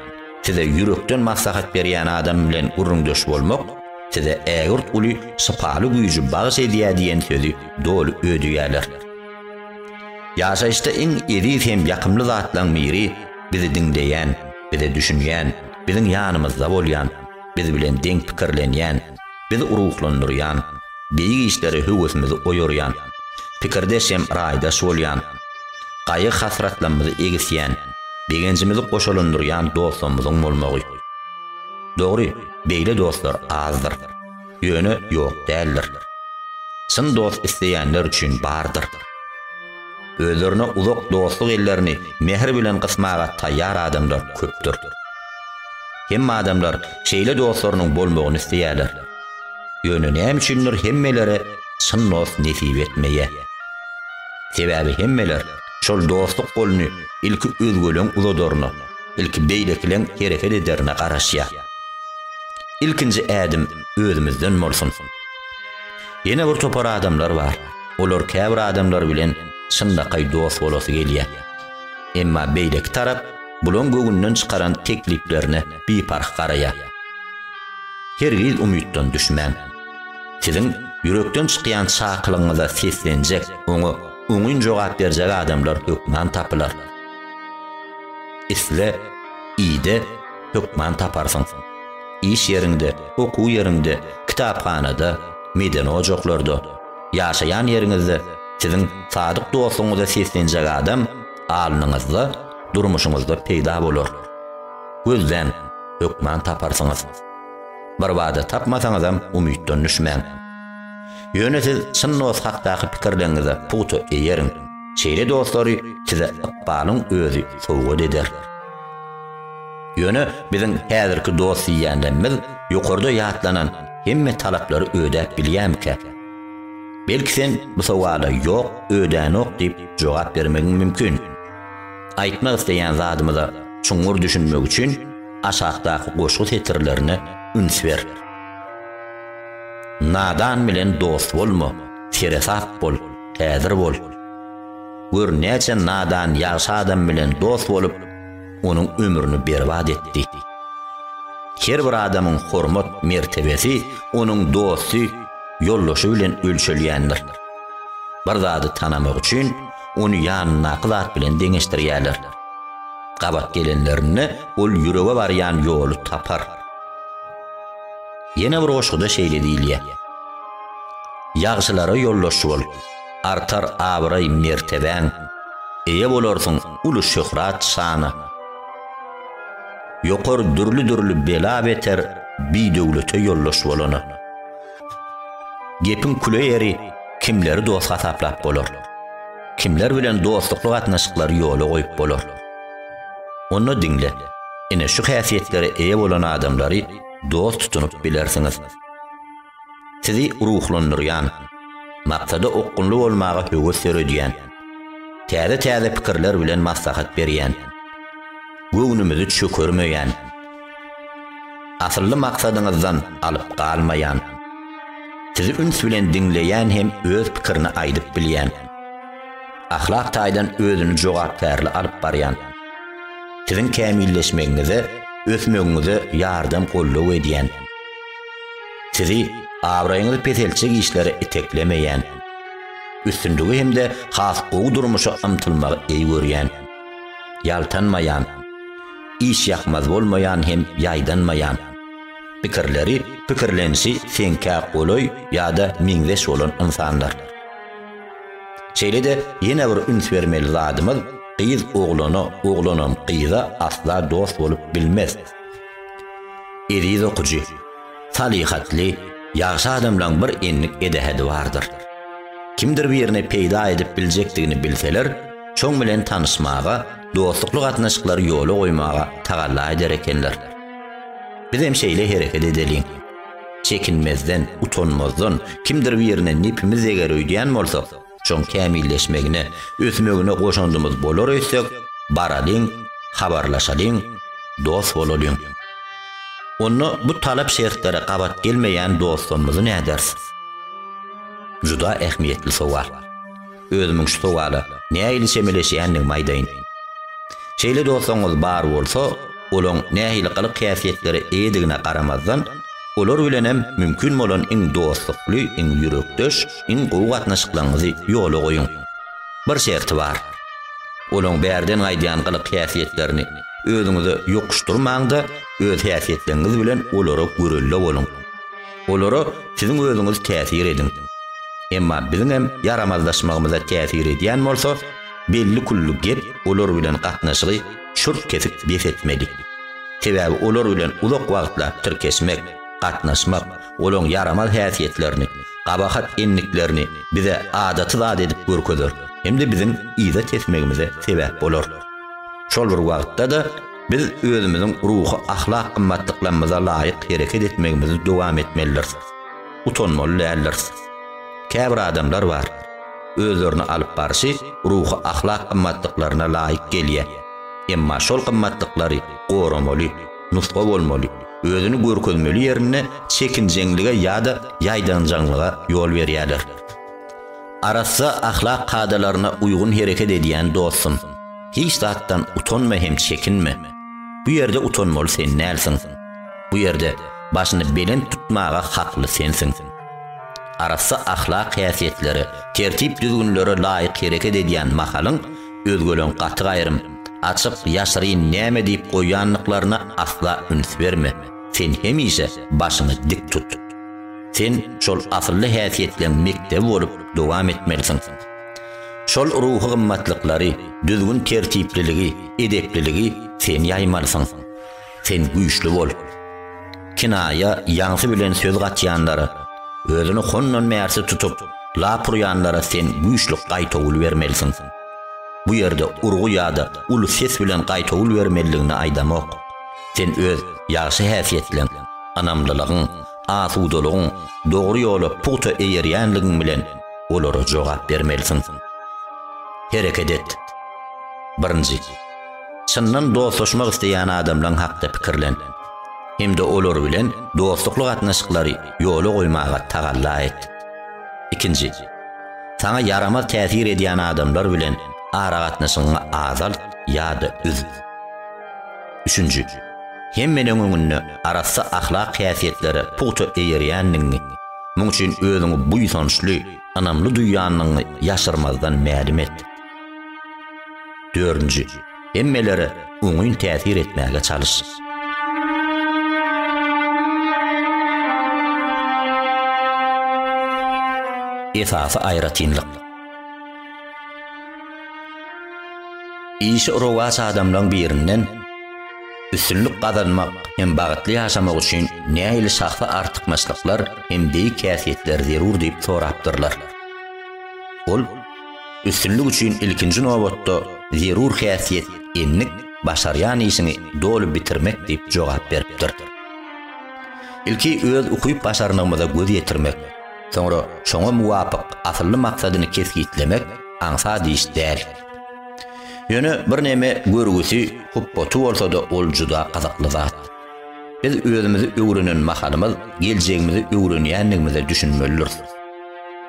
size ýürekden maslahat berýän adam bilen gürrüňdeş bolmak size ägirt uly şypaly güýji bagyş edýär diýen sözi doly ödeýärler. Ýaşaýyşda iň eziz hem ýakymly zatlaryň biri bizi diňleýän, bize düşünýän, biziň ýanymyzda bolýan, biz bilen deň pikirlenýän, bizi ruhlandyrýan, beýik işlere höwesimizi oýarýan, pikirdeş hem raýdaş bolýan, gaýgy-hasratlarymyzy egisýän, begenjimizi goşalandyrýan dostlarymyzyň bolmagy. Dogry, beýle dostlar azdyr. Ýöne ýok däldir. Çyn dost isleýänler üçin bardyr. Özlerine uzak dostluk ellerini mähir bilen gysmaga taýýar adamlar köpdür. Hemme adamlar şeýle dostlarynyň bolmagyny isleýärler. Ýöne näme üçindir hemmelere çyn dost nesip etmeýär. Sebäbi hemmeler şol dostluk goluny ilki özgeleň uzadaryna, ilki beýlekileň hereket ederine garaşýar. Ilkinji ädim özümizden bolsun. Ýene bir topar adamlar bar. Olar käbir adamlar bilen çynlakaý dost bolasy gelýär. Emma beýleki tarap bulaň göwünden çykaran tekliplerine biparh garaýar. Hergiz umytdan düşmäň. Siziň ýürekden çykýan çakylygyňyza seslenjek, oňa oňyn jogap berjek adamlar hökman tapylar. Isle, ide, hökman taparsyň. Iş ýeriňde, okuw ýeriňde, kitaphanada, medeni ojaklarda, Ýaşaýan ýeriňizde siziň sadyk dostuňyza seslenjek adam alnyňyzda, durmuşyňyzda peýda bolar. Gözläň, hökman taparsyňyz. Birbada tapmasaňyzam umytdan düşmäň. Ýöne siz çyn dost hakdaky pikirleriňize pugta eýeriň. Şeýle dostlary size ykbalyň özi sowgat eder. Ýöne biziň häzirki dost diýýänlerimiz ýokarda ýatlanan Hemme talaplary ödäp bilýämikä? Belki sen bu sowala ýok, ödänok diýip jogap bermegiň mümkin. Aýtmak isleýän zadymyza çuňňur düşünmek üçin aşakdaky goşgy setirlerine üns ber. Nadan bilen dost bolma, seresap bol, häzir bol. Gör näçe nadan ýagşy adam bilen dost bolup, onuň ömrüni berbat etdi. Her bir adamyň hormat mertebesi onuň dosty, ýoldaşy bilen ölçelýändir. Bir zady tanamak üçin ony ýanyndaky zat bilen deňeşdirýärler. Gabat gelenlerinde ol ýürege barýan ýoly tapar. Ýene bir goşguda şeýle diýilýär. Ýagşylara ýoldaş bol. artar abraý-mertebäň, eýe bolarsyň uly şöhrat-şana. Ýokar dürli-dürli bela-beter bidöwlete ýoldaş bolana. Gepiň küle ýeri, kimleri dost hasaplap bolar? Kimler bilen dostlukly gatnaşyklary ýola goýup bolar? Onda diňle, ine şu häsiýetlere eýe bolan adamlary dost tutunyp bilersiňiz. Sizi ruhlandyrýan, maksada okgunly bolmaga höwes döredýän, täze-täze pikirler bilen maslahat berýän, göwnümizi çökermeýän, asylly maksadyňyzdan alyp galmaýan, sizi üns bilen diňleýän hem öz pikirini aýdyp bilýän, ahlak taýdan özüni jogapkärli alyp barýan, siziň kämilleşmegiňize, ösmegiňize ýardam-goldaw edýän, Sizi abraýyňyzy peseltjek işlere iteklemeýän, üstünligi hem-de has gowy durmuşa ymtylmagy eý görýän, ýaltanmaýan, işýakmaz bolmaýan hem ýaýdanmaýan, pikirleri, pikirlenişi seňkä golaý ýa-da meňzeş bolan ynsanlar. Şeýle-de ýene bir üns bermeli zadymyz, gyz oglana, oglanam gyza asla dost bolup bilmez. Eziz okyjy, salyhatly, ýagşy adamlaň bir enlik edähedi bardyr. Kimdir birini peýda edip biljekdigini bilseler, şoň bilen tanyşmaga, dostlukly gatnaşyklary ýola goýmaga tagalla eder ekenler. Bizem şeýle hereket edeliň. Çekinmezden, utanmazdan, kimdir birine nepimiz deger öýdýän bolsak, Şoň kämilleşmegine, ösmegine goşandymyz bolar öýtsek, baralyň, habarlaşalyň, dost bolalyň. Onda bu talap-şertlere gabat gelmeýän dostlarymyzy näderis? Juda ähmiýetli sowal. Özümiň şu sowala nähili çemeleşýändigimi aýdaýyn. Şeýle dostlaryňyz bar bolsa, olaň nähili gylyk-häsiýetlere eýedigine garamazdan, olar bilenem mümkin bolan iň dostlukly, iň ýürekdeş, Iň gowy gatnaşyklaryňyzy ýola goýuň. Bir şerti bar. Olaň bärden gaýdýan gylyk-häsiýetlerini özüňize ýokuşdyrmaň-da, öz häsiýetleriňiz bilen olara görelde boluň. Olara siziň özüňiz täsir ediň. Emma biziňem ýaramazlaşmagymyza täsir edýän bolsa, belli külli gep olar bilen gatnaşygy çürt kesip bes etmeli. Sebäbi olar bilen uzak wagtlap tirkeşmek, gatnaşmak, Olaň ýaramaz häsiýetlerini, gabahat endiklerini bize adaty zat edip görkezer hem-de biziň yza tesmegimize sebäp bolar. Şol bir wagtda-da, biz özümiziň ruhy-ahlak gymmatlyklarymyza laýyk hereket etmegimizi dowam etmelidiris. Utanmaly däldiris. Käbir adamlar bar, özlerini alyp barşy ruhy-ahlak gymmatlyklaryna laýyk gelýär. Emma şol gymmatlyklary goramaly. nusga bolmaly, özüni görkezmeli ýerinde çekinjeňlige ýa-da ýaýdanjaňlyga ýol berýärler. Arassa ahlak kadalaryna uýgun hereket edýän dostum, hiç zatdan utanma hem çekinme. Bu ýerde utanmaly sen dälsiň. Bu ýerde başyny belent tutmaga hakly sensiň. Arassa ahlak häsiýetlere, tertip-düzgünlere laýyk hereket edýän mahalyň, Özgeleň gaty gaýrym, açyk, ýaşyryn näme diýip goýýandyklaryna asla üns berme. Sen hemişe başyňy dik tut. Sen şol asylly häsiýetleň mekdebi bolup dowam etmelisiň. Şol ruhy gymmatlyklary, düzgün-tertipliligi, edepliligi sen ýaýmalysyň. Sen güýçli bol. Kinaýa ýaňsy bilen söz gatýanlara, özüni hondan bärsi tutup, lap urýanlara sen güýçli gaýtawul bermelisiň. Bu ýerde urgy ýa-da uly ses bilen gaýtawul bermelidigini aýdamok. Sen öz ýagşy häsiýetleň, ynamlylygyň, asudalygyň, dogry ýola pugta eýerýänligiň bilen olara jogap bermelisiň. Hereket et. Birinji. Çyndan dostlaşmak isleýän adamlaň hakda pikirlen hem-de olar bilen dostlukly gatnaşyklary ýola goýmaga tagalla et. Ikinji, saňa ýaramaz täsir edýän adamlar bilen aragatnaşygyňy azalt ýa-da üz. Üçünji, hemmeleriň öňünde arassa ahlak häsiýetlere pugta eýerýändigiňi, muň üçin özüňi buýsançly, ynamly duýýandygyňy ýaşyrmazdan mälim et. Dördünji, hemmelere oňyn täsir etmäge çalyş. Esasy aýratynlyk. Işi rowaç adamlaryň birinden üstünlik gazanmak hem bagtly ýaşamak üçin nähili şahsy artykmaçlyklar hem beýik häsiýetler zerur diýip sorapdyrlar. Ol Üstünlik üçin ilkinji nobatda zerur häsiýet endik başarýan işiňi doly bitirmek diýip jogap beripdir. Ilki öz ukyp-başarnygymyza göz ýetirmek, soňra şoňa muwapyk asylly maksadyny kesgitlemek aňsat iş däl. Ýöne birneme görgüsi, hupbaty bolsa-da ol juda gyzykly zat. Biz özümizi öwrenen mahalymyz geljegimizi öwrenýändigimize düşünmelidiris.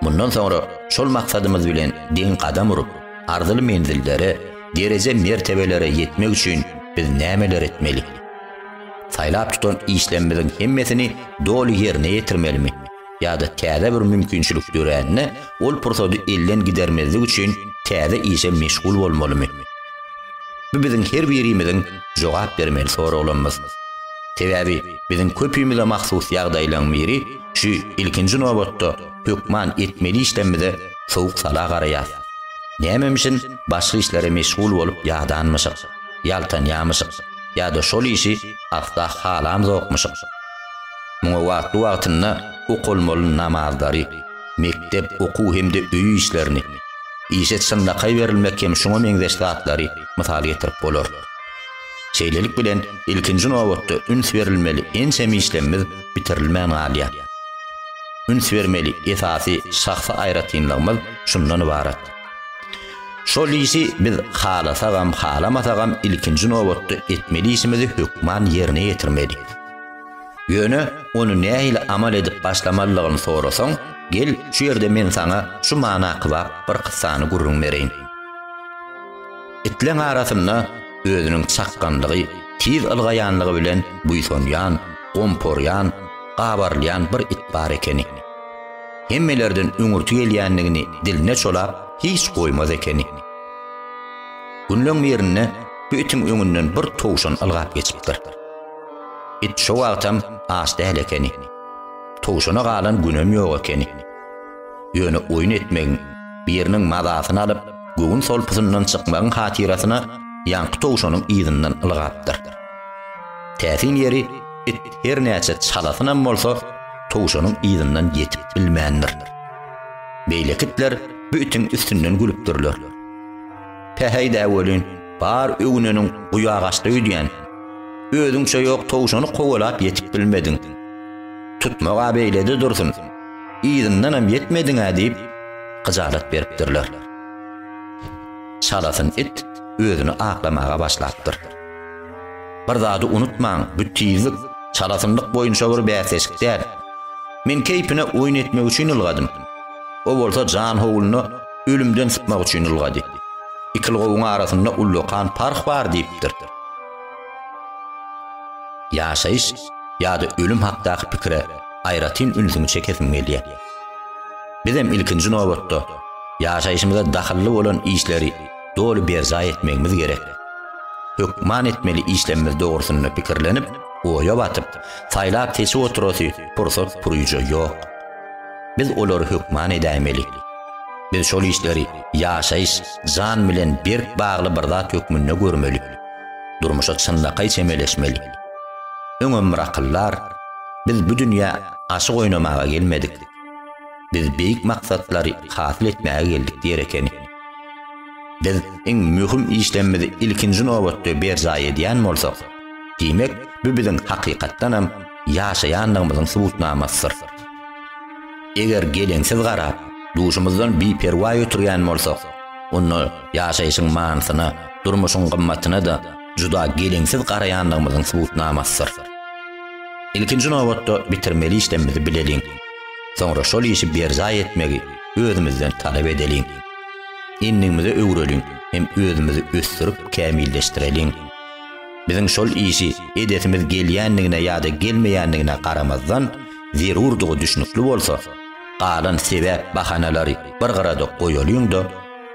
Mundan soňra şol maksadymyz bilen deň gadam urup, arzyly menzillere, dereje-mertebelere ýetmek üçin biz nämeler etmeli? Saýlap tutan işlerimiziň hemmesini doly ýerine ýetirmelimi? ýa-da täze bir mümkinçilik dörände ol pursady elden gidermezlik üçin täze işe meşgul bolmalymy? Bu biziň her birimiziň jogap bermeli soraglarymyz. Sebäbi biziň köpimize mahsus ýagdaýlaryň biri şu ilkinji nobatda hökman etmeli işlerimize sowuk sala garaýas. Nämemişin başga işlere meşgul bolup ýadanmyşyk, ýaltanýamyşyk ýa-da şol işi asla halamzokmyşyk. Muňa wagtly-wagtynda okalmaly namazlary, mekdep, okuw hem-de öý işlerini, işe çynlakaý berilmek hem şuňa meňzeş zatlary mysal getirip bolar. Şeýlelik bilen, ilkinji nobatda üns berilmeli ençeme işlemmiz bitirilmän galýar. Üns bermeli esasy şahsy aýratynlygymyz şundan ybarat. Şol işi biz halasagam, halamasagam ilkinji nobatda etmeli işimizi hökman ýerine ýetirmeli. Ýöne ony nähili amal edip başlamalydygyny sorasaň, gel, şu ýerde men saňa şu mana kybap bir kyssany gürrüň bereýin. Itleň arasynda özüniň çakganlygy, tiz ylgaýanlygy bilen buýsanýan, gomporýan, gabarylýan bir it bar ekeni. Hemmelerden öňürti gelýänligini diline çolap, hiç goýmaz ekeni. Günleň birinde bu itiň öňünden bir towşan ylgap geçipdir. It şo wagtam aç däl ekeni. Towşana galan günem ýok ekeni. Ýöne oýun etmegiň, biriniň mazasyny alyp, göwün solpusyndan çykmagyň hatyrasyna ýaňky towşanyň yzyndan ylgapdyr. Täsin ýeri, it her näçe çalasynam bolsa, towşanyň yzyndan ýetip bilmändir. Beýleki itler bu itiň üstünden gülüpdirler. Päheý-dä welin, bar öwüneniň guýagaçda öýdýän. Özüňçe ýok towşany kowalap ýetip bilmediň. Tutmag-a beýlede dursun, yzyndanam ýetmediň-ä diýip, hyjalat beripdirler. Çalasyn it özüni aklamaga başlapdyr. Bir zady unutmaň, bu tizlik, çalasynlyk boýunça bir bäsleşik däl. Men keýpine oýun etmek üçin ylgadym. O bolsa jan howluna, ölümden sypmak üçin ylgady. Iki ylgawyň arasynda ullakan parh bar diýipdir. Ýaşaýyş ýa-da ölüm hakdaky pikire aýratyn ünsüňi çekesim gelýär. Bizem ilkinji nobatda ýaşaýşymyza dahylly bolan işleri doly berjaý etmegimiz gerek. Hökman etmeli işlemimiz dogrusynda pikirlenip, oýa batyp, saýlap-seçip oturasy pursat-puryja ýok. Biz olary hökman edäýmeli. Biz şol işleri ýaşaýyş, jan bilen berk bagly bir zat hökmünde görmeli. Durmuşa çynlakaý çemeleşmeli. Öňem bir akyldar, Biz bu dünýä aşyk oýnamaga gelmedik. Biz beýik maksatlary hasyl etmäge geldik diýer ekeni. Biz iň möhüm işlerimizi ilkinji nobatda berjaý edýän bolsak, diýmek, bu biziň hakykatdan hem ýaşaýandygymyzyň subutnamasydyr. Eger geleňsiz garap, duşumyzdan biperwaý oturýan bolsak, onda ýaşaýşyň manysyna, durmuşyň gymmatyna-da juda geleňsiz garaýandygymyzyň subutnamasydyr. Ilkinji nobatda bitirmeli işlerimizi bileliň. Soňra şol işi berjaý etmegi, özümizden talap edeliň. Endigimize öwreliň hem özümizi ösdürip kämilleşdireliň. Biziň şol işi edesimiz gelýändigine ýa-da gelmeýändigine garamazdan, zerurdygy düşnükli bolsa, galan sebäp bahanalary bir gyrada goýalyň-da,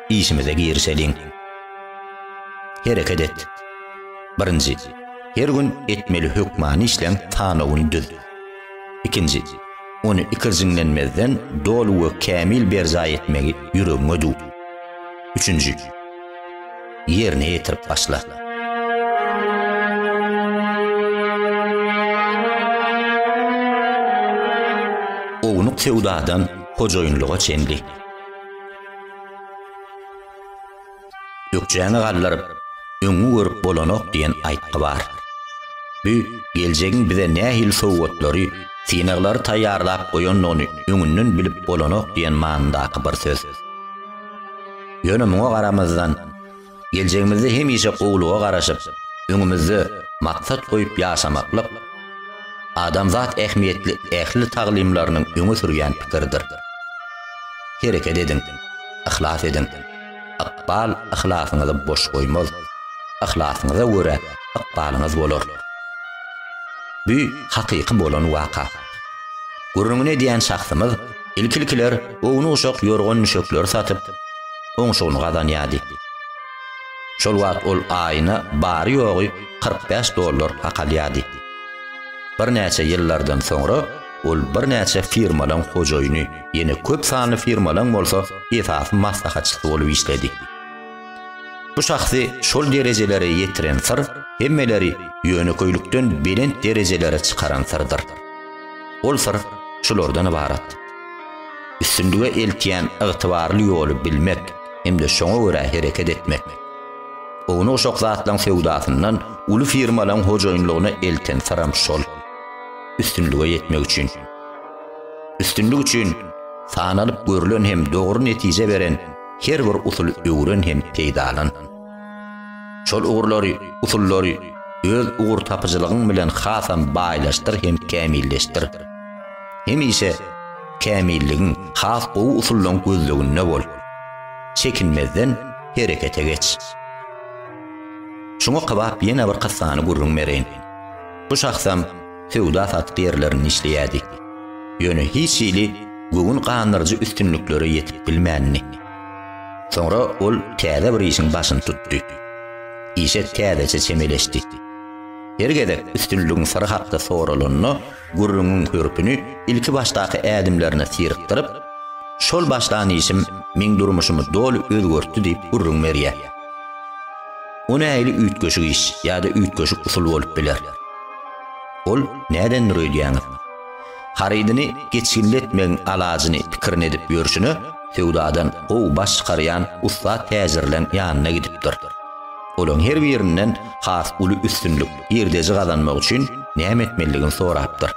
işimize girişeliň. Hereket et. Birinji, her gün etmeli hökmany işleň sanawyny düz. Ikinji, ony ikirjiňlenmezden doly we kämil berjaý etmegi ýüregiňe düw. Üçünji, ýerine ýetirip başla. Ownuk söwdadan hojaýynlyga çenli. Ökjäňi galdyryp, öňňi görüp bolanok diýen aýtgy bar. Bu geljegiň bize nähili sowgatlary, synaglary taýýarlap goýandygyny öňünden bilip bolanok diýen manyndaky bir söz. Ýöne muňa garamazdan, geljegimizde hemişe gowulyga garaşyp, öňümizde maksat goýup ýaşamaklyk adamzat ähmiýetli ähli taglymlarynyň öňe sürýän pikiridir. Hereket ediň, yhlas ediň! Ykbal yhlasyňyzy boş goýmaz. Yhlasyňyza görä ykbalyňyz bolar. Bu hakyky bolan waka. Gürrüňini edýän şahsymyz ilki-ilkiler ownuk-uşak ýorgan-düşekleri satyp, oňşugyny gazanýardy. Şol wagt ol aýyna bary-ýogy kyrk bäş dollar hak alýardy. Birnäçe ýyllardan soňra Ol birnäçe firmalaň hojaýyny, ýene köp sanly firmalaň bolsa esasy maslahatçysy bolup işledi. Bu şahsy şol derejelere ýetiren syr hemmeleri ýönekeýlikden belent derejelere çykaran syrdyr. Ol syr şulardan ybarat. Üstünlige eltýän ygtybarly ýoly bilmek hem-de şoňa görä hereket etmek. Ownuk-şok zatlaň söwdasyndan uly firmalaň hojaýynlygyna elten syram şol. üstünlige ýetmek üçin. Üstünlik üçin sanalyp görülen hem dogry netije beren her bir usuly öwren hem peýdalan. Şol ugurlary, usullary öz ugur tapyjylygyň bilen hasam baýlaşdyr hem kämilleşdir. Hemişe kämilligiň, has gowy usullaryň gözleginde bol. Çekinmezden herekete geç. Şuňa kybap ýene bir kyssany gürrüň bereýin. Bu şahsam söwda-satyk ýerlerinde işleýärdi. Ýöne hiç hili göwün gandyryjy üstünliklere ýetip bilmändi. Soňra ol täze bir işiň başyny tutdy. Işe täzeçe çemeleşdi. Her gezek üstünligiň syry hakda soralanda, gürrüňiň hörpüni ilki başdaky ädimlerine syrykdyryp, Şol başlan işim meň durmuşymy doly özgertdi diýip gürrüň berýär. O nähili üýtgeşik iş ýa-da üýtgeşik usul bolup biler? Ol nädendir öýdýäňiz? Harydyny geçgilletmegiň alajyny pikirini edip ýörşüne, söwdadan gowy baş çykarýan ussat täjirleň ýanyna gidipdir. Olaň her birinden has uly üstünlik, girdeji gazanmak üçin näme etmelidigini sorapdyr.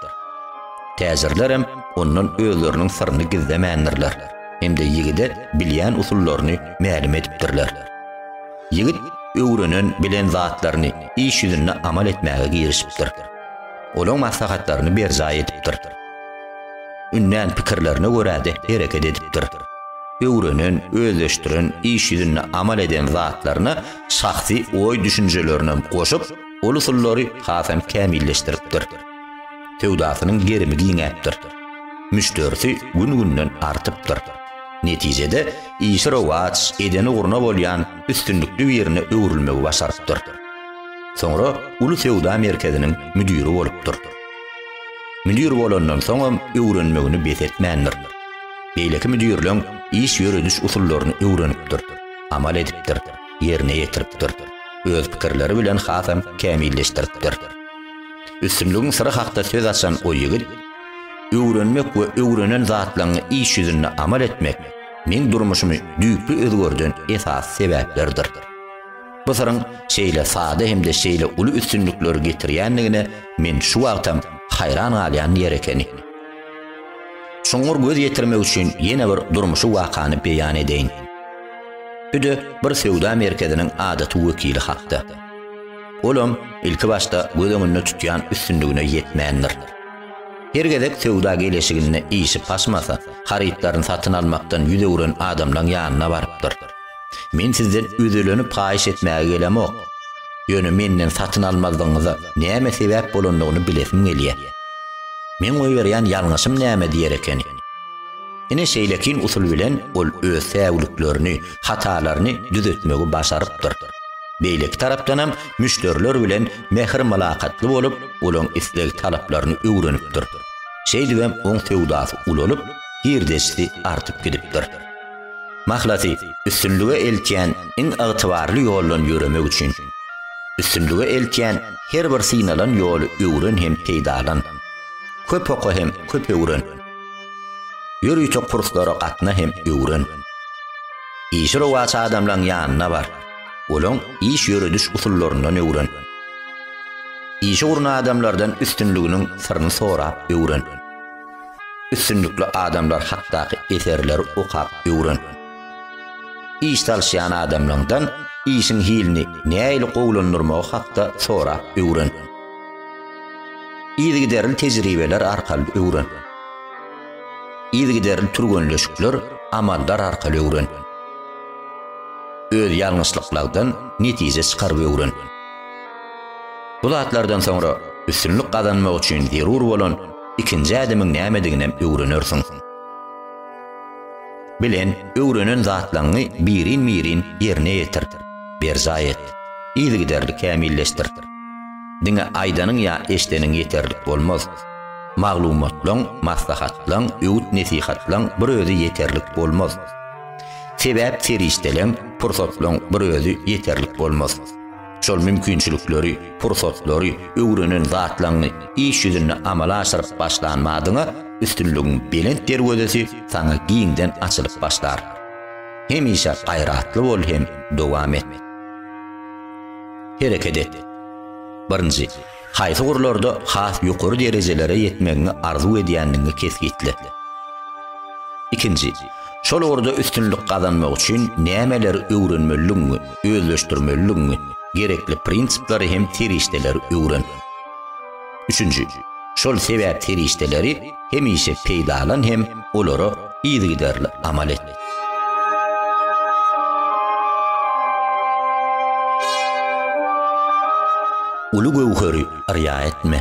Täjirlerem ondan özleriniň syryny gizlemändirler hem-de ýigide bilýän usullaryny mälim edipdirler. Ýigit öwrenen, bilen zatlaryny iş ýüzünde amal etmäge girişipdir. Olaň maslahatlaryny berjaý edipdir. Ündän pikirlerine görä-de hereket edipdir. Öwrenen, özleşdiren, iş ýüzünde amal eden zatlaryna şahsy oý-düşünjelerinem goşup, ol usullary hasam kämilleşdiripdir. Söwdasynyň gerimi giňäpdir. Müşderisi gün-günden artypdyr. Netijede, işi rowaç, edeni gurna bolýan üstünlikli birine öwrülmegi başarypdyr. Soňra uly söwda merkeziniň müdiri bolupdyr. Müdir bolandan soňam öwrenmegini bes etmändir. Beýleki müdirleň iş ýörediş usullaryny öwrenipdir, amal edipdir, ýerine ýetiripdir. Öz pikirleri bilen hasam kämilleşdiripdir. Üstünligiň syry hakda söz açan o ýigit, Öwrenmek we öwrenen zatlaryňy iş ýüzünde amal etmek meň durmuşymy düýpli özgerden esasy sebäplerdir. Bu syryň şeýle sada hem-de şeýle uly üstünlikleri getirýändigine men şu wagtam haýran galýan ýer ekeni. Çuňňur göz ýetirmek üçin ýene bir durmuşy wakany beýan edeýin. Bu-da bir söwda merkeziniň adaty wekili hakda. olam ilki başda göz öňünde tutýan üstünligine ýetmändir. Her gezek söwda geleşiginde işi paşmasa, harytlaryny satyn almakdan ýüz öwren adamlaň ýanyna barypdyr. Men sizden özelenip haýyş etmäge gelemok. Ýöne menden satyn almazlygyňyza näme sebäp bolandygyny bilesim gelýär. Meň goýberýän ýalňyşym näme diýer ekeni? Ine şeýlekin usul bilen ol öz säwliklerini, hatalaryny düzetmegi başarypdyr. Beýleki tarapdanam müşderiler bilen mähir-mylakatly bolup, olaryň isleg-talaplaryny öwrenipdir. Şeýdibem oň söwdasy ulalyp, girdejisi artyp gidipdir. Mahlasy, üstünlige eltýän iň ygtybarly ýoldan ýöremek üçin. Üstünlige eltýän her bir synalan ýoly öwren hem peýdalan. Köp oka hem köp öwren. Ýörite kurslara gatna hem öwren. Işi rowaç adamlaň ýanyna bar. Olaň iş ýörediş usullaryndan öwren. Işi guran adamlardan üstünliginiň syryny sorap öwren. Üstünlikli adamlar hakdaky eserleri okap öwren. Iş salşýan adamlaňdan işiň hilini näili gowulandyrmagy hakda sorap öwren. Yzygiderli tejribeler arkaly öwren. Yzygiderli türgenleşikler amaldar arkaly öwren. Öz ýalňyşlyklagdan netije çykaryp öwren. Bu zatlardan soňra üstünlik gazanmak üçin zerur bolan ikinji ädimiň nämediginem öwrenersiň. Bilen, öwrenen zatlaňňy birin-birin ýerine ýetir, berjaý et. Yzygiderli kämilleşdir. Diňe aýdanyň ýa eşdeniň ýeterlik bolmaz. Maglumatlaň, maslahatlaň, öwüt-nesihatlaň bir özi ýeterlik bolmaz. Sebäp-serişdeleň, pursatlaň bir özi ýeterlik bolmaz. Şol mümkinçilikleri, pursatlary, öwrenen zatlaňňy iş ýüzünde amala aşyryp başlan badyňa üstünligiň belent derwezesi saňa giňden açylyp başlar. Hemişe gaýratly bol hem dowam et. Hereket et. Birinji, haýsy ugurlarda has ýokary derejelere ýetmegiňi arzuw edýändigiňi kesgitle. Ikinji, şol ugurda üstünlik gazanmak üçin nämeleri öwrenmelidigiňi, özleşdirmelidigiňi, gerekli prinsipleri hem serişdeleri öwren. Üçünji, şol sebäp serişdeleri hemişe peýdalan hem olara yzygiderli amal et. Uly göwheri yrýa etme.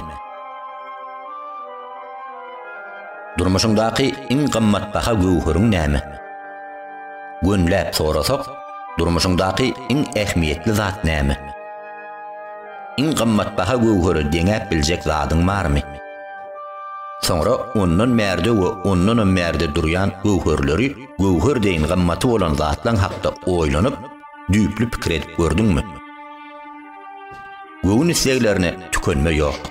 Durmuşyňdaky iň gymmatbaha göwheriň näme? Gönüläp sorasak, durmuşyňdaky iň ähmiýetli zat näme? Iň gymmatbaha göwhere deňäp biljek zadyň barmy? Soňra ondan bärde we ondanam bärde durýan göwherleri göwher deýin gymmaty bolan zatlaň hakda oýlanyp, düýpli pikir edip gördüňmi? Göwün isleglerine tükenme ýok.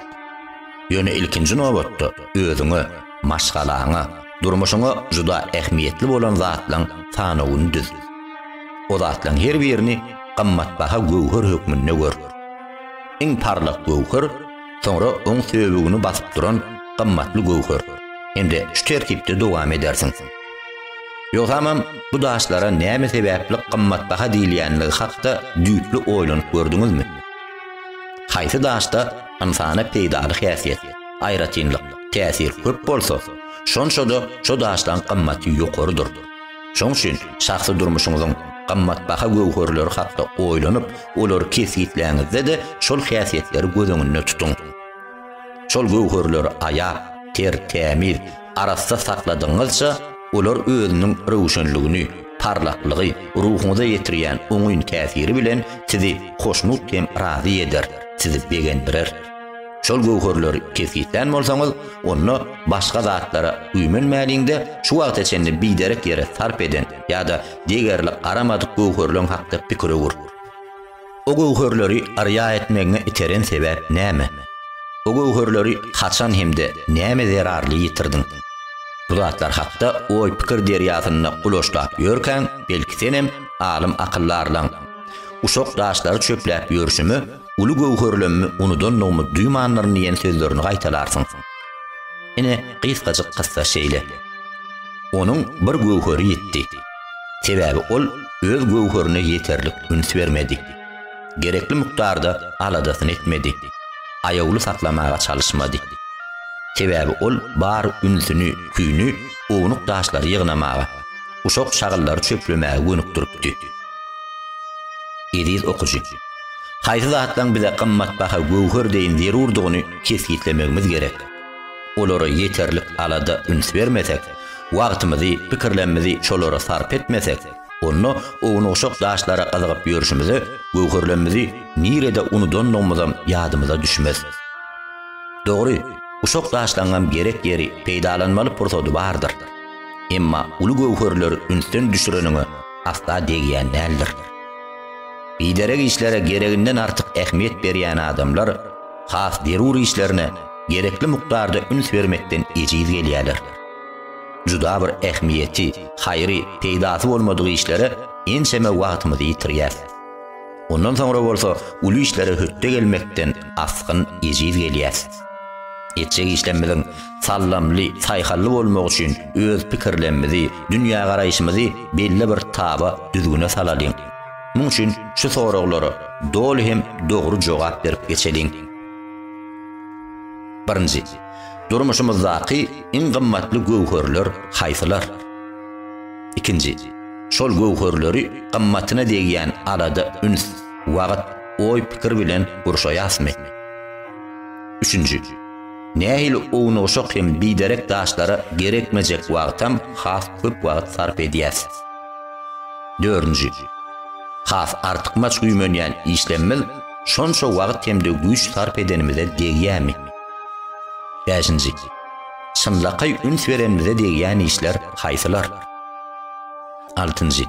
Ýöne ilkinji nobatda özüňe, maşgalaňa, durmuşyňa juda ähmiýetli bolan zatlaň sanawyny düz. O zatlaň her birini gymmatbaha göwher hökmünde gör. Iň parlak göwher, soňra oň söbügini basyp duran gymmatly göwher hem-de şu tertipde dowam edersiň. Ýogsamam bu daşlara näme sebäpli gymmatbaha diýilýänligi hakda düýpli oýlanyp gördüňizmi? Haýsy daşda ynsana peýdaly häsiýet, aýratynlyk, Täsir köp bolsa, şonça-da şo daşlaň gymmaty ýokarydyr. Şoň üçin şahsy durmuşyňyzyň gymmatbaha göwherleri hakda oýlanyp, olary kesgitläňizde-de şol häsiýetleri göz öňünde tutuň. Şol göwherleri aýap, ter, tämiz, arassa sakladygyňyzça, olar özüniň röwşenligini, parlaklygy, ruhuňyza ýetirýän oňyn täsiri bilen sizi hoşnut hem razy eder, sizi begendirer. Şol göwherleri kesgitlän bolsaňyz, onda başga zatlara güýmenmäliň-de, şu wagta çenli biderek ýere sarp eden ýa-da degerli garamadyk göwherleň hakda pikir öwür. O göwherleri arýa etmegiňe iteren sebäp näme? O göwherleri haçan hem-de näme zerarly ýitirdiň? Bu zatlar hakda oý-pikir derýasynda uloşlap ýörkäň, belki senem alym-akylly arlaň. Uşak daşlary çöpläp ýörşümi, Uly göwherlemmi unudandygymyz duýmanlaryn diýen sözlerini gaýtalarsyň. Ine, gysgajyk kyssa şeýle. Onuň bir göwheri ýitdi. Sebäbi ol öz göwherine ýeterlik üns bermedi. Gerekli mukdarda aladasyny etmedi. Aýawly saklamaga çalyşmady. Sebäbi ol bar ünsüni, küýüni ownuk daşlary ýygnamaga, uşak-şagallary çöplemäge gönükdiripdi. Eziz okyjy! Haýsy zatlaryň bize gymmatbaha göwher deýin zerurdygyny kesgitlemegimiz gerek. Olara ýeterlik alada üns bermesek, wagtymyzy, pikirlemmizi şolara sarp etmesek, onda ownugşak daşlara gyzygyp ýörşümize göwherlemmizi nirede unudandygymyzam ýadymyza düşmez. Dogry, uşak daşlaryňam gerek ýeri, peýdalanmaly pursady bardyr. Emma uly göwherleri ünsden düşüreniňe asla degýän däldir. Biderek işlere gereginden artyk ähmiýet berýän adamlar has zerur işlerine gerekli mukdarda üns bermekden ejiz gelýärler. Juda bir ähmiýeti, haýry, peýdasy bolmadyk işlere ençeme wagtymyzy ýitirýäs. Ondan soňra bolsa uly işlere hötde gelmekden asgyn ejiz gelýäs. Etjek işlemmiziň sallamly, saýhally bolmagy üçin öz pikirlemmizi, dünýägaraýşymyzy belli bir taba, düzgüne salalyň. Muň üçin şu soraglara doly hem dogry jogap berip geçeliň. Birinji. Durmuşymyzdaky iň gymmatly göwherler haýsylar? Ikinji. Şol göwherleri gymmatyna degýän alada, üns, wagt, oý-pikir bilen gurşaýasmy? Üçünji. Nähili ownugşak hem biderek daşlara gerekmejek wagtam has köp wagt sarp edýäs. Dördünji. Has artykmaç güýmenýän işlemimiz şonça wagt hem-de güýç sarp edenimize degýämi? Bäşinji. Çynlakaý üns berenimize degýän işler haýsylar? Altynjy.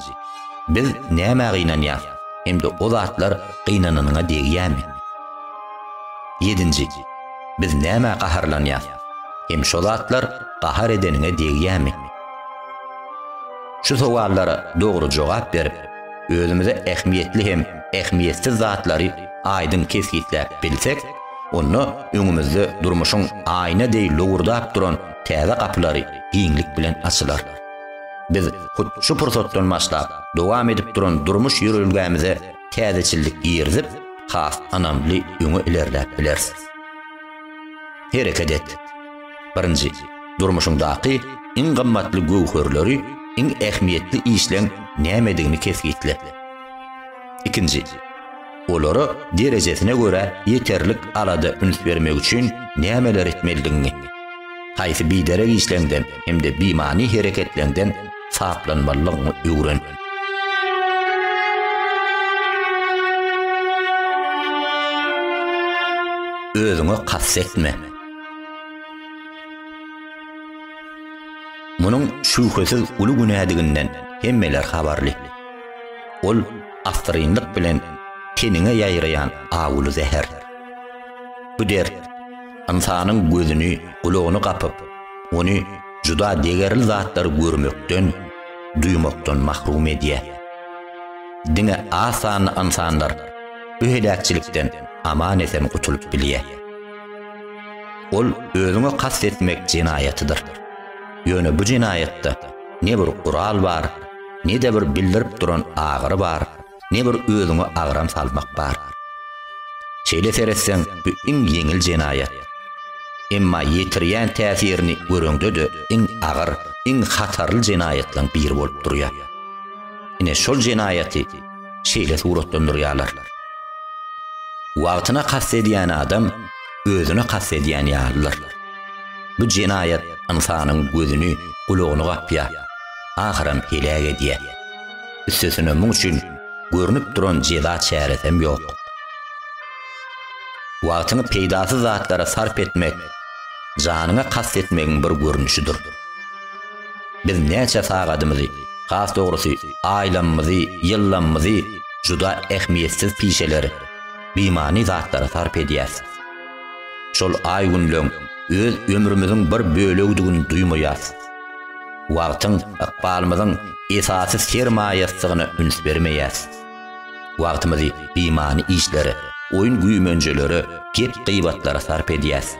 Biz nämä gynanýarys hem-de o zatlar gynananyňa degýärmi? Ýedinji. Biz nämä gaharlanýarys hem şo zatlar gahar edeniňe degýärmi? Şu sowallara dogry jogap berip, özümize ähmiýetli hem ähmiýetsiz zatlary aýdyň kesgitläp bilsek, onda öňümizde durmuşyň aýna deý lowurdap duran täze gapylary giňlik bilen açylar. Biz hut şu pursatdan başlap dowam edip duran durmuş ýörelgämize täzeçillik girizip, has ynamly öňe ilerläp bileris. Hereket et! Birinji, durmuşyňdaky iň gymmatly göwherleri, iň ähmiýetli işleň nämedigini kesgitle. Ikinji. olara derejesine görä ýeterlik alada üns bermek üçin nämeler etmelidigiňi, haýsy biderek işleňden hem-de bimany hereketleňden saplanmalydygyňy öwren. özüňe kast etme. Munuň şübhesiz uly günädiginden hemmeler habarly. Ol Assyrynlyk bilen teniňe ýaýraýan awuly zäher. Bu dert ynsanyň gözüni, gulagyny gapyp, ony juda degerli zatlary görmekden, duýmakdan mahrum edýär. Diňe az sanly ynsanlar bu heläkçilikden aman-esen gutulyp bilýär. Ol özüňe kast etmek jenaýatydyr. Ýöne bu jenaýatda ne bir gural bar, Ne-de bir bildirip duran agyry bar, ne bir özüňe agram salmak bar. Şeýle seretseň, bu iň ýeňil jenaýat. Emma ýetirýän täsirini göreňde-de iň agyr, iň hatarly jenaýatlaryň biri bolup durýar. Ine, şol jenaýaty şeýle suratlandyrýarlar. Wagtyna kast edýän adam özüne kast edýän ýalydyr. Bu jenaýat ynsanyň gözüni, gulagyny gapýar. ahyram heläk edýär. Üstesine muň üçin görnüp duran jeza çäresem ýok. Wagtyňy peýdasyz zatlara sarp etmek janyňa kast etmegiň bir görnüşidir. Biz näçe sagadymyzy, has dogrusy, aýlamymyzy, ýyllamymyzy juda ähmiýetsiz pişeler, bimany zatlara sarp edýäs. Şol aý-günleň öz ömrümiziň bir bölegidigini duýmaýas. Wagtyň ykbalymyzyň esasy sermaýasydygyna üns bermeýäs. Wagtymyzy bimany işlere, oýun-güýmenjelere, gep-gybatlara sarp edýäs.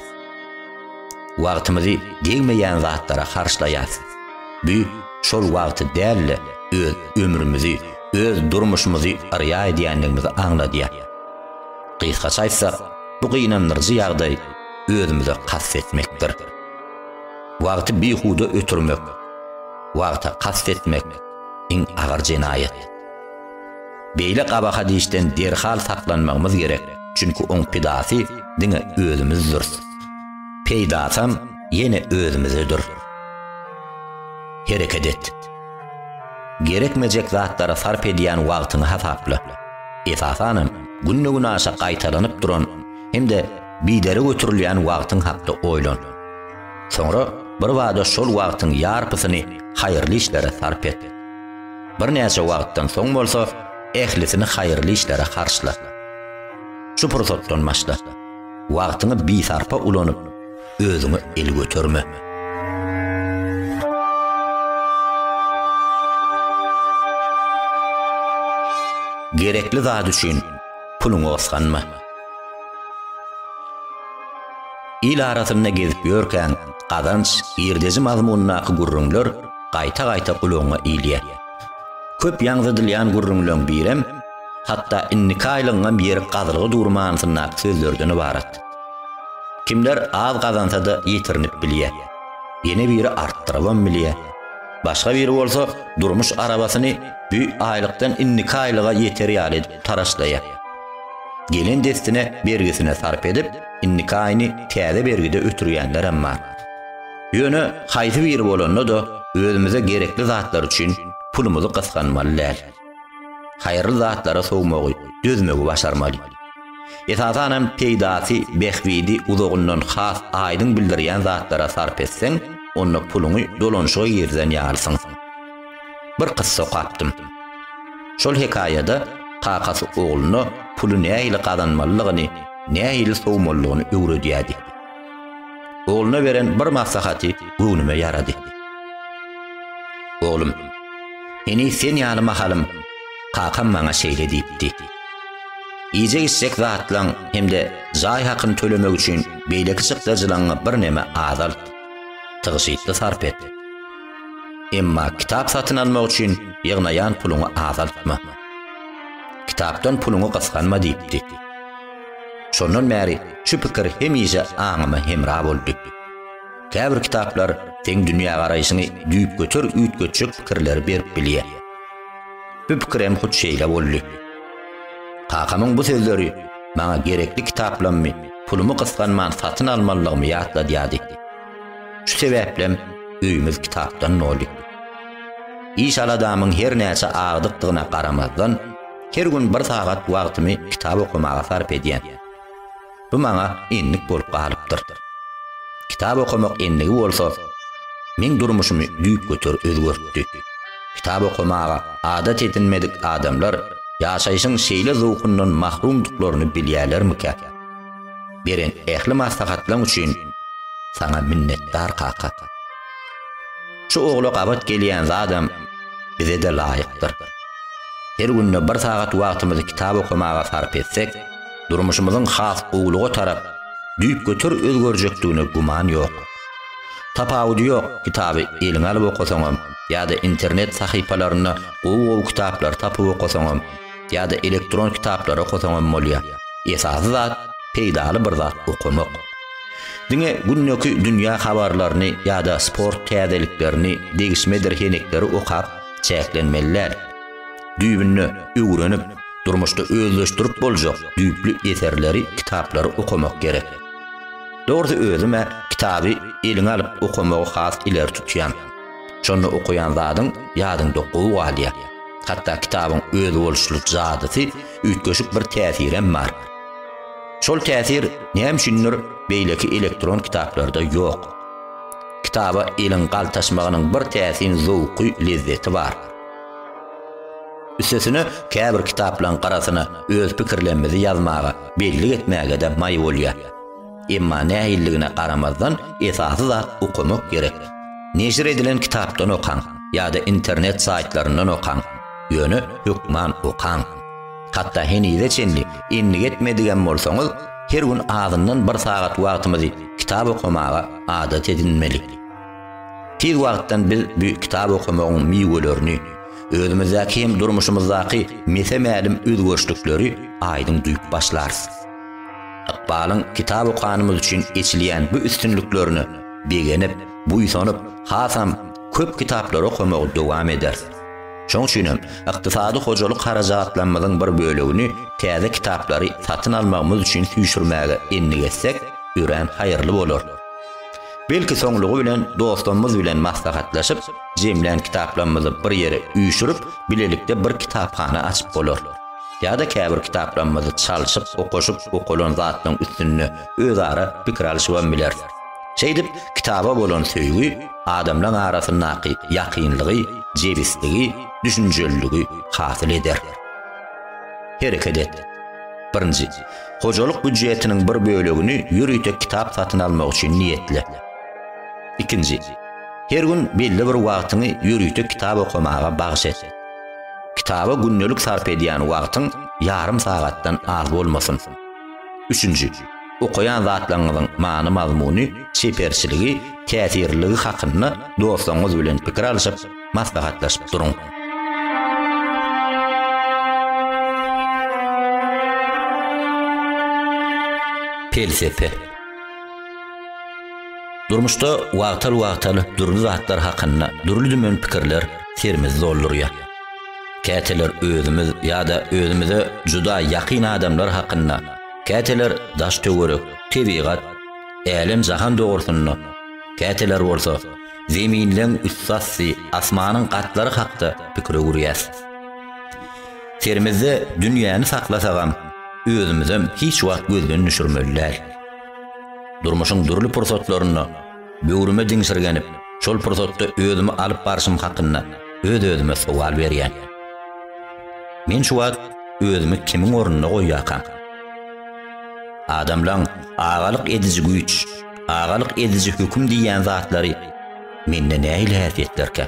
Wagtymyzy degmeýän zatlara harçlaýas. Bu şol wagty däl-de, öz ömrümizi, öz durmuşymyzy yrýa edýändigimizi aňladýar. Gysgaça aýtsak, bu gynandyryjy ýagdaý özümize kast etmekdir. Wagty bihuda ötürmek, wagta kast etmek iň agyr jenaýat. Beýle gabahat işden derhal saklanmagymyz gerek, çünki oň pidasy diňe özümizdiris. Peýdasam ýene özümizedir. Hereket et. Gerekmejek zatlara sarp edýän wagtyňy hasapla. Esasanam, günde-günaşa gaýtalanyp duran hem-de Bidere göterilýän wagtyň hakda oýlan. Soňra birbada şol wagtyň ýarpysyny haýyrly işlere sarp et. Birnäçe wagtdan soň bolsa, ählisini haýyrly işlere harçla. Şu pursatdan başla. Wagtyňy bisarpa ulanyp, özüňe el göterme. Gerekli zat üçin puluňy osganma. Il arasynda gezip ýörkäň, gazanç, girdeji mazmunyndaky gürrüňler gaýta-gaýta gulagyňa ilýär. Köp ýaňzydylýan gürrüňleň birem, hatda indiki aýlygyňam ýeri gazylgy dur manysyndaky sözlerden ybarat. Kimler az gazansa-da ýitirinip bilýär. Ýene biri artdyrybam bilýär. Başga biri bolsa durmuş arabasyny bü aýlykdan indiki aýlyga ýeter ýaly edip taraşlaýar. Gelen dessine bergisine sarp edip, indiki aýyny täze bergide ötürýänlerem bar. Ýöne haýsy biri bolanda-da, özümize gerekli zatlar üçin pulumyzy gysganmaly däl. Haýyrly zatlara sowmagy, dözmegi başarmaly. Esasan hem peýdasy, bähbidi uzagyndan has aýdyň bildirýän zatlara sarp etseň, onda puluňy dolanyşyga girizen ýalysyň. Bir kyssa okapdym. Şol hekaýada kakasy ogluna puly nähili gazanmalydygyny, nähili sowmalydygyny öwredýärdi. Ogluna beren bir maslahaty göwnüme ýarady. Oglum, heniz sen ýaly mahalym kakam maňa şeýle diýipdi. Iýjek-içjek zatlaň hem-de jaý hakyny tölemek üçin beýleki çykdajylaňňy birneme azalt, tygşytly sarp et. Emma kitap satyn almak üçin ýygnaýan puluňy azaltma. Kitapdan puluňy gysganma diýipdi. Şondan bäri şu pikir hemişe aňyma hemra boldy. Käbir kitaplar seň dünýägaraýşyňy düýpgöter üýtgetjek pikirleri berip bilýär. Bu pikirem hut şeýle boldy. Kakamyň bu sözleri maňa gerekli kitaplammy, pulumy gysganman satyn almalylygymy ýatladýardy. Şu sebäplem öýümiz kitapdan doly. Iş-aladamyň hernäçe agdykdygyna garamazdan, Her gün bir sagat wagtymy kitap okamaga sarp edýän. Bu maňa endik bolup galypdyr. Kitap okamak endigi bolsa, meň durmuşymy düýpgöter özgertdi. Kitap okamaga adat edinmedik adamlar ýaşaýşyň şeýle zowkundan mahrumdyklaryny bilýärlermikä? Beren ähli maslahatlaň üçin saňa minnetdar kaka. Şu ogla gabat gelýän zadam bize-de laýykdyr. Her günde bir sagat wagtymyzy kitap okamaga sarp etsek, durmuşymyzyň has gowulyga tarap düýpgöter özgerjekdigine güman ýok. Tapawudy ýok, kitaby eliňe alyp okasaňam ýa-da internet sahypalarynda gowy-gowy kitaplary tapyp okasaňam, ýa-da elektron kitaplary okasaňam bolýar. Esasy zat, peýdaly bir zat okamak. Diňe gündeki dünýä habarlaryny ýa-da sport täzeliklerini, degişmedir henekleri okap çäklenmeli däl. Düýbünde öwrenip, durmuşda özleşdirip boljak düýpli eserleri, kitaplary okamak gerek. Dogrusy özüm-ä kitaby eliňe alyp okamagy has ileri tutýan. Şonda okaýan zadyň ýadyňda gowy galýar. Hatda kitabyň özboluşly jadysy, üýtgeşik bir täsirem bar. Şol täsir näme üçindir beýleki elektron kitaplarda ýok. Kitaba eliň galtaşmagynyň bir täsin zowky, lezzeti bar. Üstesine käbir kitaplaryň garasyna öz pikirlerimizi ýazmaga, bellik etmäge-de maý bolýar. Emma nähilligine garamazdan esasy zat okamak gerek. Neşir edilen kitapdan okaň ýa-da internet saýtlaryndan okaň, ýöne hökman okaň. Hatda henize çenli endik etmedigem bolsaňyz, her gün azyndan bir sagat wagtymyzy kitap okamaga adat edinmeli. Tiz wagtdan biz bu kitap okamagyň miwelerini, özümizdäki hem durmuşymyzdaky mese-mälim özgerişlikleri aýdyň duýup başlarys. Ykbalyň kitap okanymyz üçin eçilýän bu üstünliklerine begenip, buýsanyp, hasam köp kitaplary okamagy dowam ederis. Şoň üçin hem ykdysady hojalyk harajatlarymyzyň bir bölegini täze kitaplary satyn almagymyz üçin süýşürmäge endik etsek, örän haýyrly bolar. Belki soňlugy bilen dostlarymyz bilen maslahatlaşyp, jemlän kitaplarymyzy bir ýere üýşürip, bilelikde bir kitaphana açyp bolar. Ýa-da käbir kitaplarymyzy çalşyp, okaşyp, okalan zatlaryň üstünde özara pikir alyşybam bileris. Şeýdip, kitaba bolan söýgi adamlaryň arasyndaky ýakynlygy, jebisligi, düşünjeliligi hasyl eder. Hereket et. Birinji, hojalyk býujetiniň bir bölegini ýörite kitap satyn almak üçin niýetle. Ikinji, her gün belli bir wagtyňy ýörite kitap okamaga bagyş et. Kitaba gündelik sarp edýän wagtyň ýarym sagatdan az bolmasyn. Üçünji, okaýan zatlaryňyzyň many-mazmuny, çeperçiligi, täsirliligi hakynda dostlaryňyz bilen pikir alşyp, maslahatlaşyp duruň. Pelsepe. Durmuşda wagtal-wagtal dürli zatlar hakynda dürli-dümen pikirler serimizi doldurýar. Käteler özümiz ýa-da özümize juda ýakyn adamlar hakynda, käteler daş-töwerek, tebigat, älem-jahan dogrusynda, käteler bolsa Zeminleň üstassy, asmanyň gatlary hakda pikir öwürýäs. Serimizde dünýäni saklasagam, özümizem hiç wagt gözden düşürmeli däl. Durmuşyň dürli pursatlarynda böwrüme diňşirgenip, şol pursatda özümi alyp barşym hakynda öz-özüme sowal berýän. Men şu wagt özümi kimiň ornunda goýýarkam? Adamlaň agalyk ediji güýç, agalyk ediji höküm diýýän zatlary mende nähili häsiýetlerkä?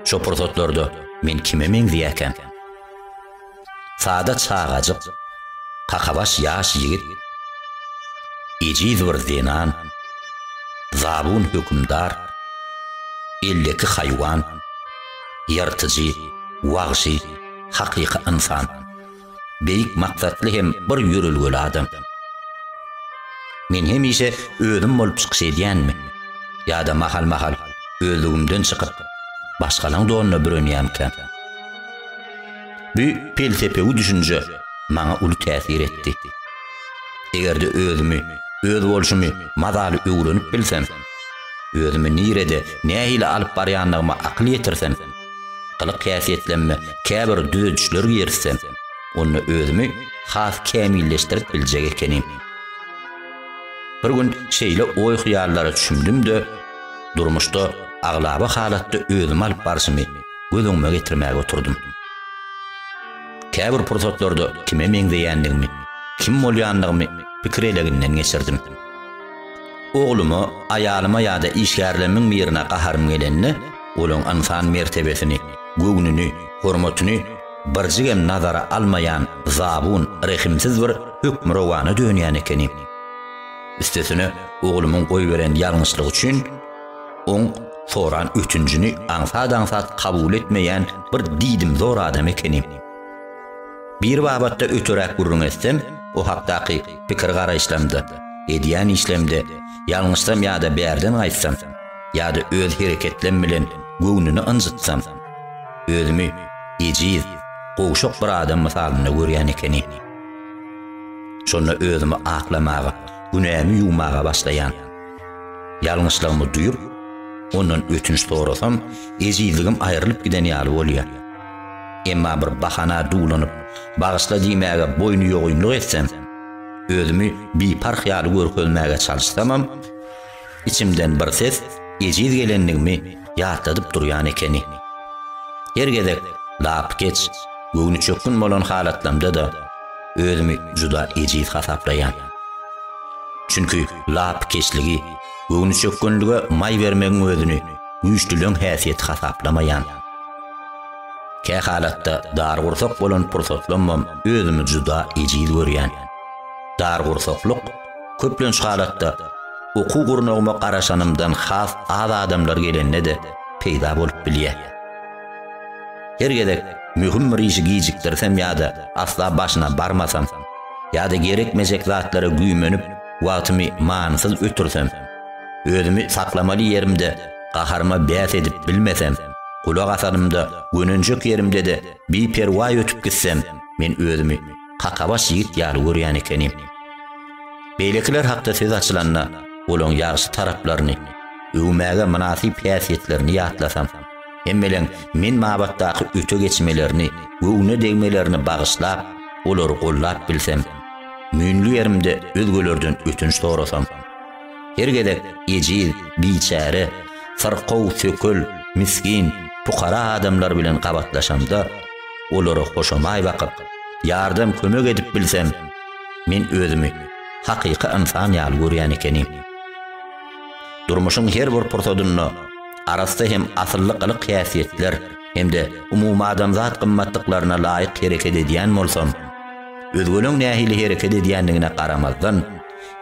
Şo pursatlarda men kime meňzeýäkäm? Sada çagajyk, kakabaş ýaş ýigit, ejiz bir zenan, zabun hökümdar, elleki haýwan, ýyrtyjy, wagşy, hakyky ynsan. beýik maksatly hem bir ýörelgeli adam. Men hemişe özüm bolup çykyş edýänmi? Ýa-da mahal-mahal özlügimden çykyp, başgalaň donuna bürenýänkäm? Bu pelsepewi düşünje maňa uly täsir etdi. Eger-de özümi, öz bolşumy mazaly öwrenip bilsem, özümi nirede, nähili alyp barýandygyma akyl ýetirsem, Gylyk-häsiýetlenme käbir düzedişler girizsem, onda özümi has kämilleşdirip biljek ekenim. Bir gün şeýle oý-hyýallara çümdüm-de, durmuşda aglaba halatda özümi alyp barşymy göz öňüme getirmäge oturdym. Käbir pursatlarda kime meňzeýändigimi, kim bolýandygymy pikir eleginden geçirdim. Ogluma, aýalyma ýa-da işgärlerimiň birine gaharym gelende, Olaň ynsan mertebesini, göwnüni, hormatyny birjigem nazara almaýan zabun, rehimsiz bir hökmürowana dönýän ekenim. Üstesine, oglumyň goýberen ýalňyşlygy üçin oň soran ötünjini aňsat-aňsat kabul etmeýän bir diýdimzor adam ekenim. Bir babatda öteräk gürrüň etsem, o hakdaky pikir-garaýyşlamda, edýän işlemde ýalňyşsam ýa-da bärden gaýtsam, ýa-da öz hereketlerim bilen göwnüni ynjytsam, özümi ejiz, gowşak bir adam mysalynda görýän ekenim. Şonda özümi aklamaga, günämi ýuwmaga başlaýan. Ýalňyşlygymy duýup, ondan ötünç sorasam, ejizligim aýrylyp giden ýaly bolýar. Emma bir bahana dulanyp, bagyşla diýmäge boýnuýogynlyk etsem, özümi biparh ýaly görkezmäge çalyşsamam, Içimden bir ses ejiz gelenligimi ýatladyp durýan ekeni. Her gezek lapykeç, göwnüçökgün bolan halatlamda-da özümi juda ejiz hasaplaýan. Çünki lapykeçligi, göwnüçökgünlige maý bermegiň özüni güýçlüleň häsiýeti hasaplamaýan. Kähalatda dargursak bolan pursatlambam özümi juda ejiz görýän. Dargursaklyk Köplenç halatda, okuw gurnagyma garaşanymdan has az adamlar gelende-de peýda bolup bilýär. Her gezek möhüm bir işi gijikdirsem ýa-da asla başyna barmasam, ýa-da gerekmejek zatlara güýmenip, wagtymy manysyz ötürsem, özümi saklamaly ýerimde gaharyma bäs edip bilmesem, gulak asanymda gönenjek ýerimde-de biperwaý ötüp gitsem, men özümi kakabaş ýigit ýaly görýän ekenim. Beýlekiler hakda söz açylanda, olaň ýagşy taraplaryny, öwmäge mynasyp häsiýetlerini ýatlasam, hemmeleň men babatdaky öte geçmelerini, göwne degmelerini bagyşlap, olary gollap bilsem, müýnli ýerimde özgelerden ötünç sorasam, Her gezek ejiz, biçäre, syrkaw, sökül, misgin, pukara adamlar bilen gabatlaşamda, olara hoşamaý bakyp, ýardam, kömek edip bilsem, men özümi hakyky ynsan ýaly görýän ekenim. Durmuşyň her bir pursadynda arassa hem asylly gylyk-häsiýetler hem-de umumadamzat gymmatlyklaryna laýyk hereket edýän bolsam, özgeleň nähili hereket edýändigine garamazdan,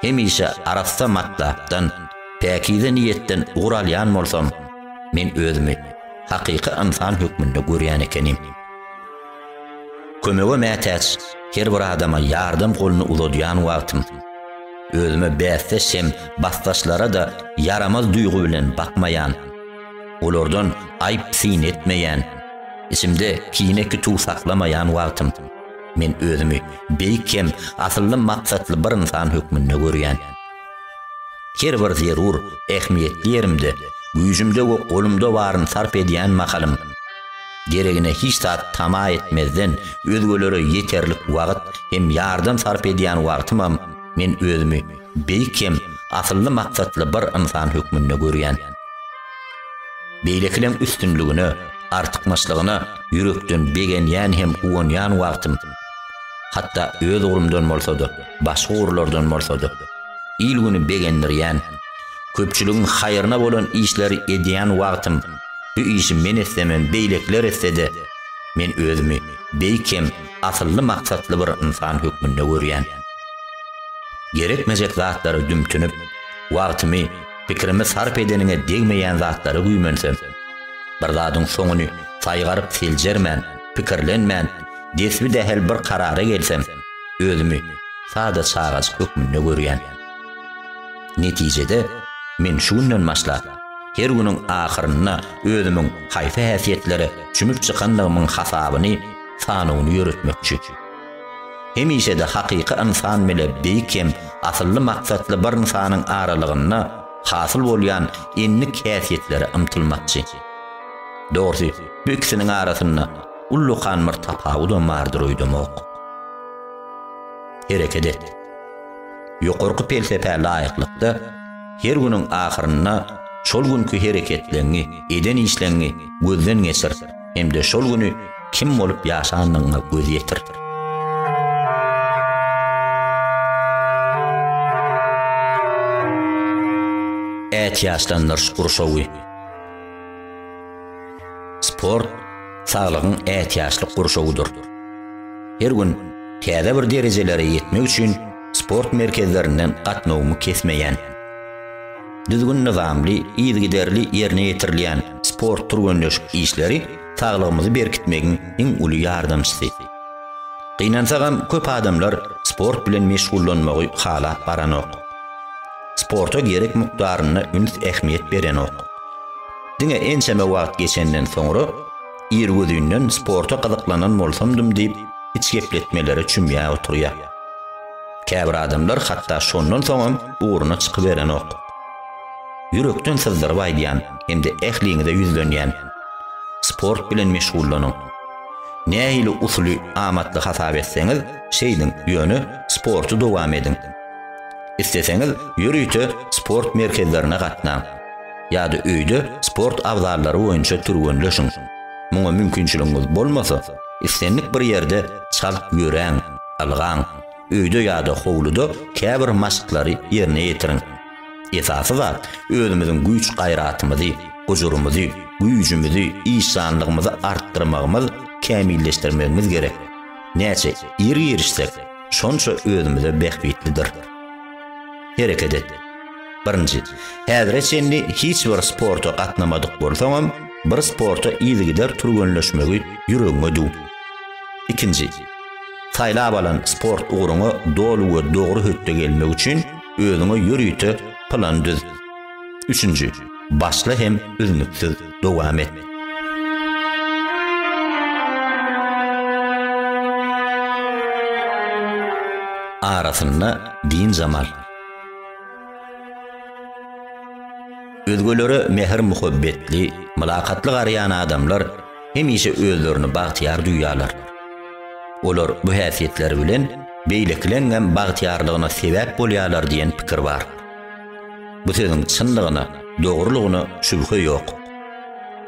hemişe arassa matlapdan, päkize niýetden ugur alýan bolsam, men özümi hakyky ynsan hökmünde görýän ekenim. Kömege mätäç her bir adama ýardam goluny uzadýan wagtym, özüme bäsdeş hem basdaşlara-da ýaramaz duýgy bilen bakmaýan, olardan aýyp-syn etmeýän, içimde kine-kütüw saklamaýan wagtym, Men özümi beýik hem asylly maksatly bir ynsan hökmünde görýän. Her bir zerur, ähmiýetli ýerimde, güýjümde we golumda baryny sarp edýän mahalym, deregine hiç zat tama etmezden, özgelere ýeterlik wagt hem ýardam sarp edýän wagtymam men özümi beýik hem asylly maksatly bir ynsan hökmünde görýän. Beýlekileň üstünligine, artykmaçlygyna ýürekden begenýän hem guwanýan wagtym, hatda öz ugrumdan bolsa-da, başga ugurlardan bolsa-da, il-güni begendirýän, köpçüligiň haýryna bolan işleri edýän wagtym, bu işi men etsem hem beýlekiler etse-de, men özümi beýik hem asylly-maksatly bir ynsan hökmünde görýän. Gerekmejek zatlara dümtünip, wagtymy, Pikirimi sarp edeniňe degmeýän zatlara güýmensem, bir zadyň soňuny saýgaryp seljermän, pikirlenmän, desbi-dähel bir karara gelsem, özümi sada çagajyk hökmünde görýän. Netijede, men şu günden başlap, her günüň ahyrynda özümiň haýsy häsiýetlere çümüp çykandygymyň hasabyny, sanawyny ýöretmekçi. Hemişe-de hakyky ynsan bile beýik hem asylly maksatly bir ynsanyň aralygynda hasyl bolýan endik häsiýetlere ymtylmakçy. Dogrusy, bu ikisiniň arasynda ullakan bir tapawudam bardyr öýdemok. Hereket et! Ýokarky pelsepä laýyklykda, her günüň ahyrynda şol günki hereketleňňi, eden işleňňi gözden geçir. hem-de şol güni kim bolup ýaşanyňa göz ýetir. Ätiýaçlandyryş gurşawy Sport saglygyň ätiýaçlyk gurşawydyr. Her gün täze bir derejelere ýetmek üçin sport merkezlerinden gatnawymy kesmeýän. Düzgün-nyzamly, yzygiderli ýerine ýetirilýän sport-türgenleşik işleri saglygymyzy berkitmegiň iň uly ýardamçysy. Gynansagam, köp adamlar sport bilen meşgullanmagy halap baranok. Sporta gerek mukdarynda üns-ähmiýet berenok. Diňe ençeme wagt geçenden soňra, irgüzinden sporta gyzyklananbolsamdym diýip, içgepletmelere çümýär oturýar. Käbir adamlar hatda şondan soňam ugruna çykyberenok. Ýürekden syzdyryp aýdýan hem-de ähliňize ýüzlenýän, sport bilen meşgullanyň. Nähili usuly amatly hasap etseňiz, şeýdiň, ýöne sporty dowam ediň. Isleseňiz, ýörite sport merkezlerine gatnaň. Ýa-da öýde sport abzallary boýunça türgenleşiň. Muňa mümkinçiligiňiz bolmasa, islendik bir ýerde çalt ýöräň. Ylgaň, öýde ýa-da howluda käbir maşklary ýerine ýetiriň. Esasy zat, özümiziň güýç-gaýratymyzy, gujurymyzy, güýjümizi, işjanlygymyzy artdyrmagymyz, kämilleşdirmegimiz gerek. Näçe ir girişsek, şonça özümize bähbitlidir. Hereket et. Birinji, häzire çenli hiç bir sporta gatnamadyk bolsaňam, bir sporta yzygider türgenleşmegi ýüregiňe düw. Ikinji, Saýlap alan sport ugruňa doly we dogry hötde gelmek üçin özüňe ýörite plan düz. Üçünji, başla hem üznüksiz dowam et. Arasynda dynjam al. Özgelere mähir-muhabbetli, mylakatly garaýan adamlar, hemişe özlerini bagtyýar duýýarlar. Olar bu häsiýetleri bilen beýlekileňňem bagtyýarlygyna sebäp bolýarlar diýen pikir bar. Bu sözüň çynlygyna, dogrulygyna şübhe ýok.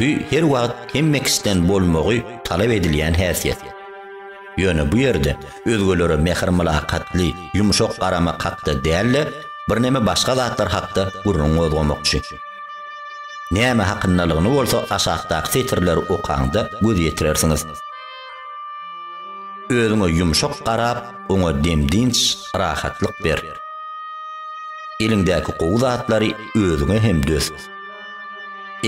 Bu her wagt hemme kişiden bolmagy talap edilýän häsiýet. Ýöne bu ýerde özgelere mähir-mylakatly, ýumşak garamak hakda däl-de, birneme başga zatlar hakda gürrüň gozgamakçy. Näme hakyndalygyny bolsa aşakdaky setirleri okaňda göz ýetirersiňiz. Özüňe ýumşak garap, oňa dem-dynç, rahatlyk ber. Eliňdäki gowy zatlary özüňe hem döz.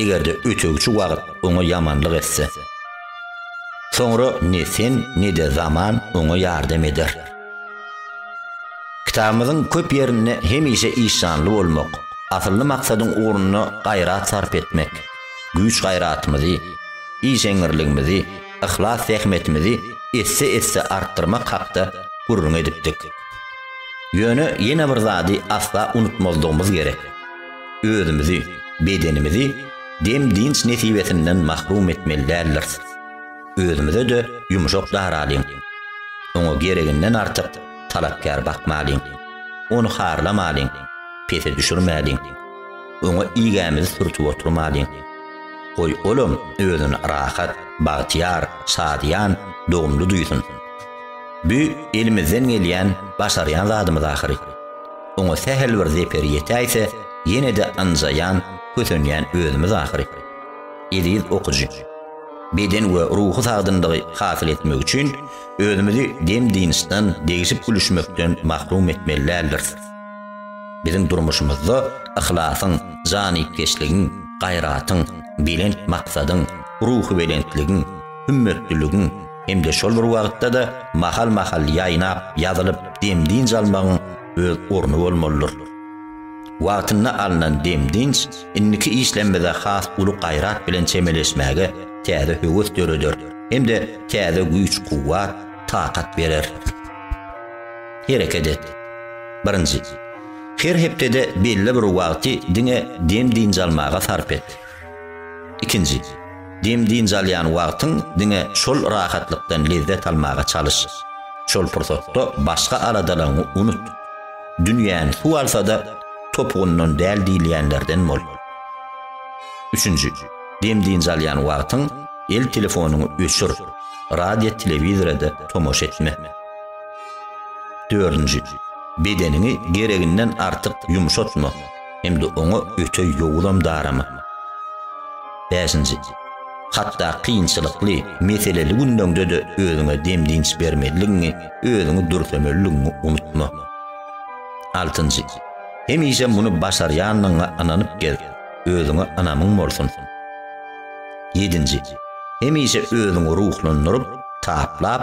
Eger-de ötegçi wagt oňa ýamanlyk etse. Soňra ne sen, ne-de zaman oňa ýardam eder. Kitabymyzyň köp ýerinde hemişe işjanly bolmak, asylly maksadyň ugrunda gaýrat sarp etmek, güýç-gaýratymyzy, işeňňirligimizi, yhlas-zähmetimizi esse-esse artdyrmak hakda gürrüň edipdik. Ýöne ýene bir zady asla unutmazlygymyz gerek. Özümizi, bedenimizi dem-dynç nesibesinden mahrum etmeli däldiris. Özümize-de ýumşak daralyň. Oňa gereginden artyk talapkär bakmalyň. Ony harlamalyň, pese düşürmäliň. Oňa igämizi sürtüp oturmalyň. Goý, olam özüni rahat, bagtyýar, şadyýan, dogumly duýsun. Bu elimizden gelýän, başarýan zadymyz ahyry. Oňa sähel bir zeper ýetäýse, ýene-de ynjaýan, kösenýän özümiz ahyry. Eziz okyjy! Beden we ruhy sagdynlygy hasyl etmek üçin özümizi dem-dynçdan, degşip gülüşmekden mahrum etmeli däldiris. Biziň durmuşymyzda yhlasyň, janypkeşligiň, gaýratyň, belent maksadyň, ruhubelentligiň, hümmetliligiň, hem-de şol bir wagtda-da mahal-mahal ýaýnap, ýazylyp, dem-dynç almagyň öz orny bolmalydyr. Wagtynda alnan dem-dynç indiki işlerimize has uly gaýrat bilen çemeleşmäge täze höwes döreder hem-de täze güýç-kuwwat, takat berer. Hereket et. Birinji. Her hepdede belli bir wagty diňe dem-dynç almaga sarp et. Ikinji. Dem-dynç alýan wagtyň diňe şol rahatlykdan lezzet almaga çalyş. Şol pursatda başga aladalaryňy unut. Dünýäni suw alsa-da, topugyndan däl diýilýänlerden bol. Üçünji, dem-dynç alýan wagtyň el telefonyňy öçür, radio-telewizora-da tomaşa etme. Dördünji, bedeniňi gereginden artyk ýumşatma. hem-de oňa öte ýowuzam darama. Bäşinji, hatda kynçylykly, meseleli günleňde-de özüňe dem-dynç bermezligiňi, özüňi dürsemezligiňi unutma. Altynjy, hemişe muny başarýandygyňa ynanyp gez, özüňe ynamyň bolsun. Ýedinji, hemişe özüňi ruhlandyryp, taplap,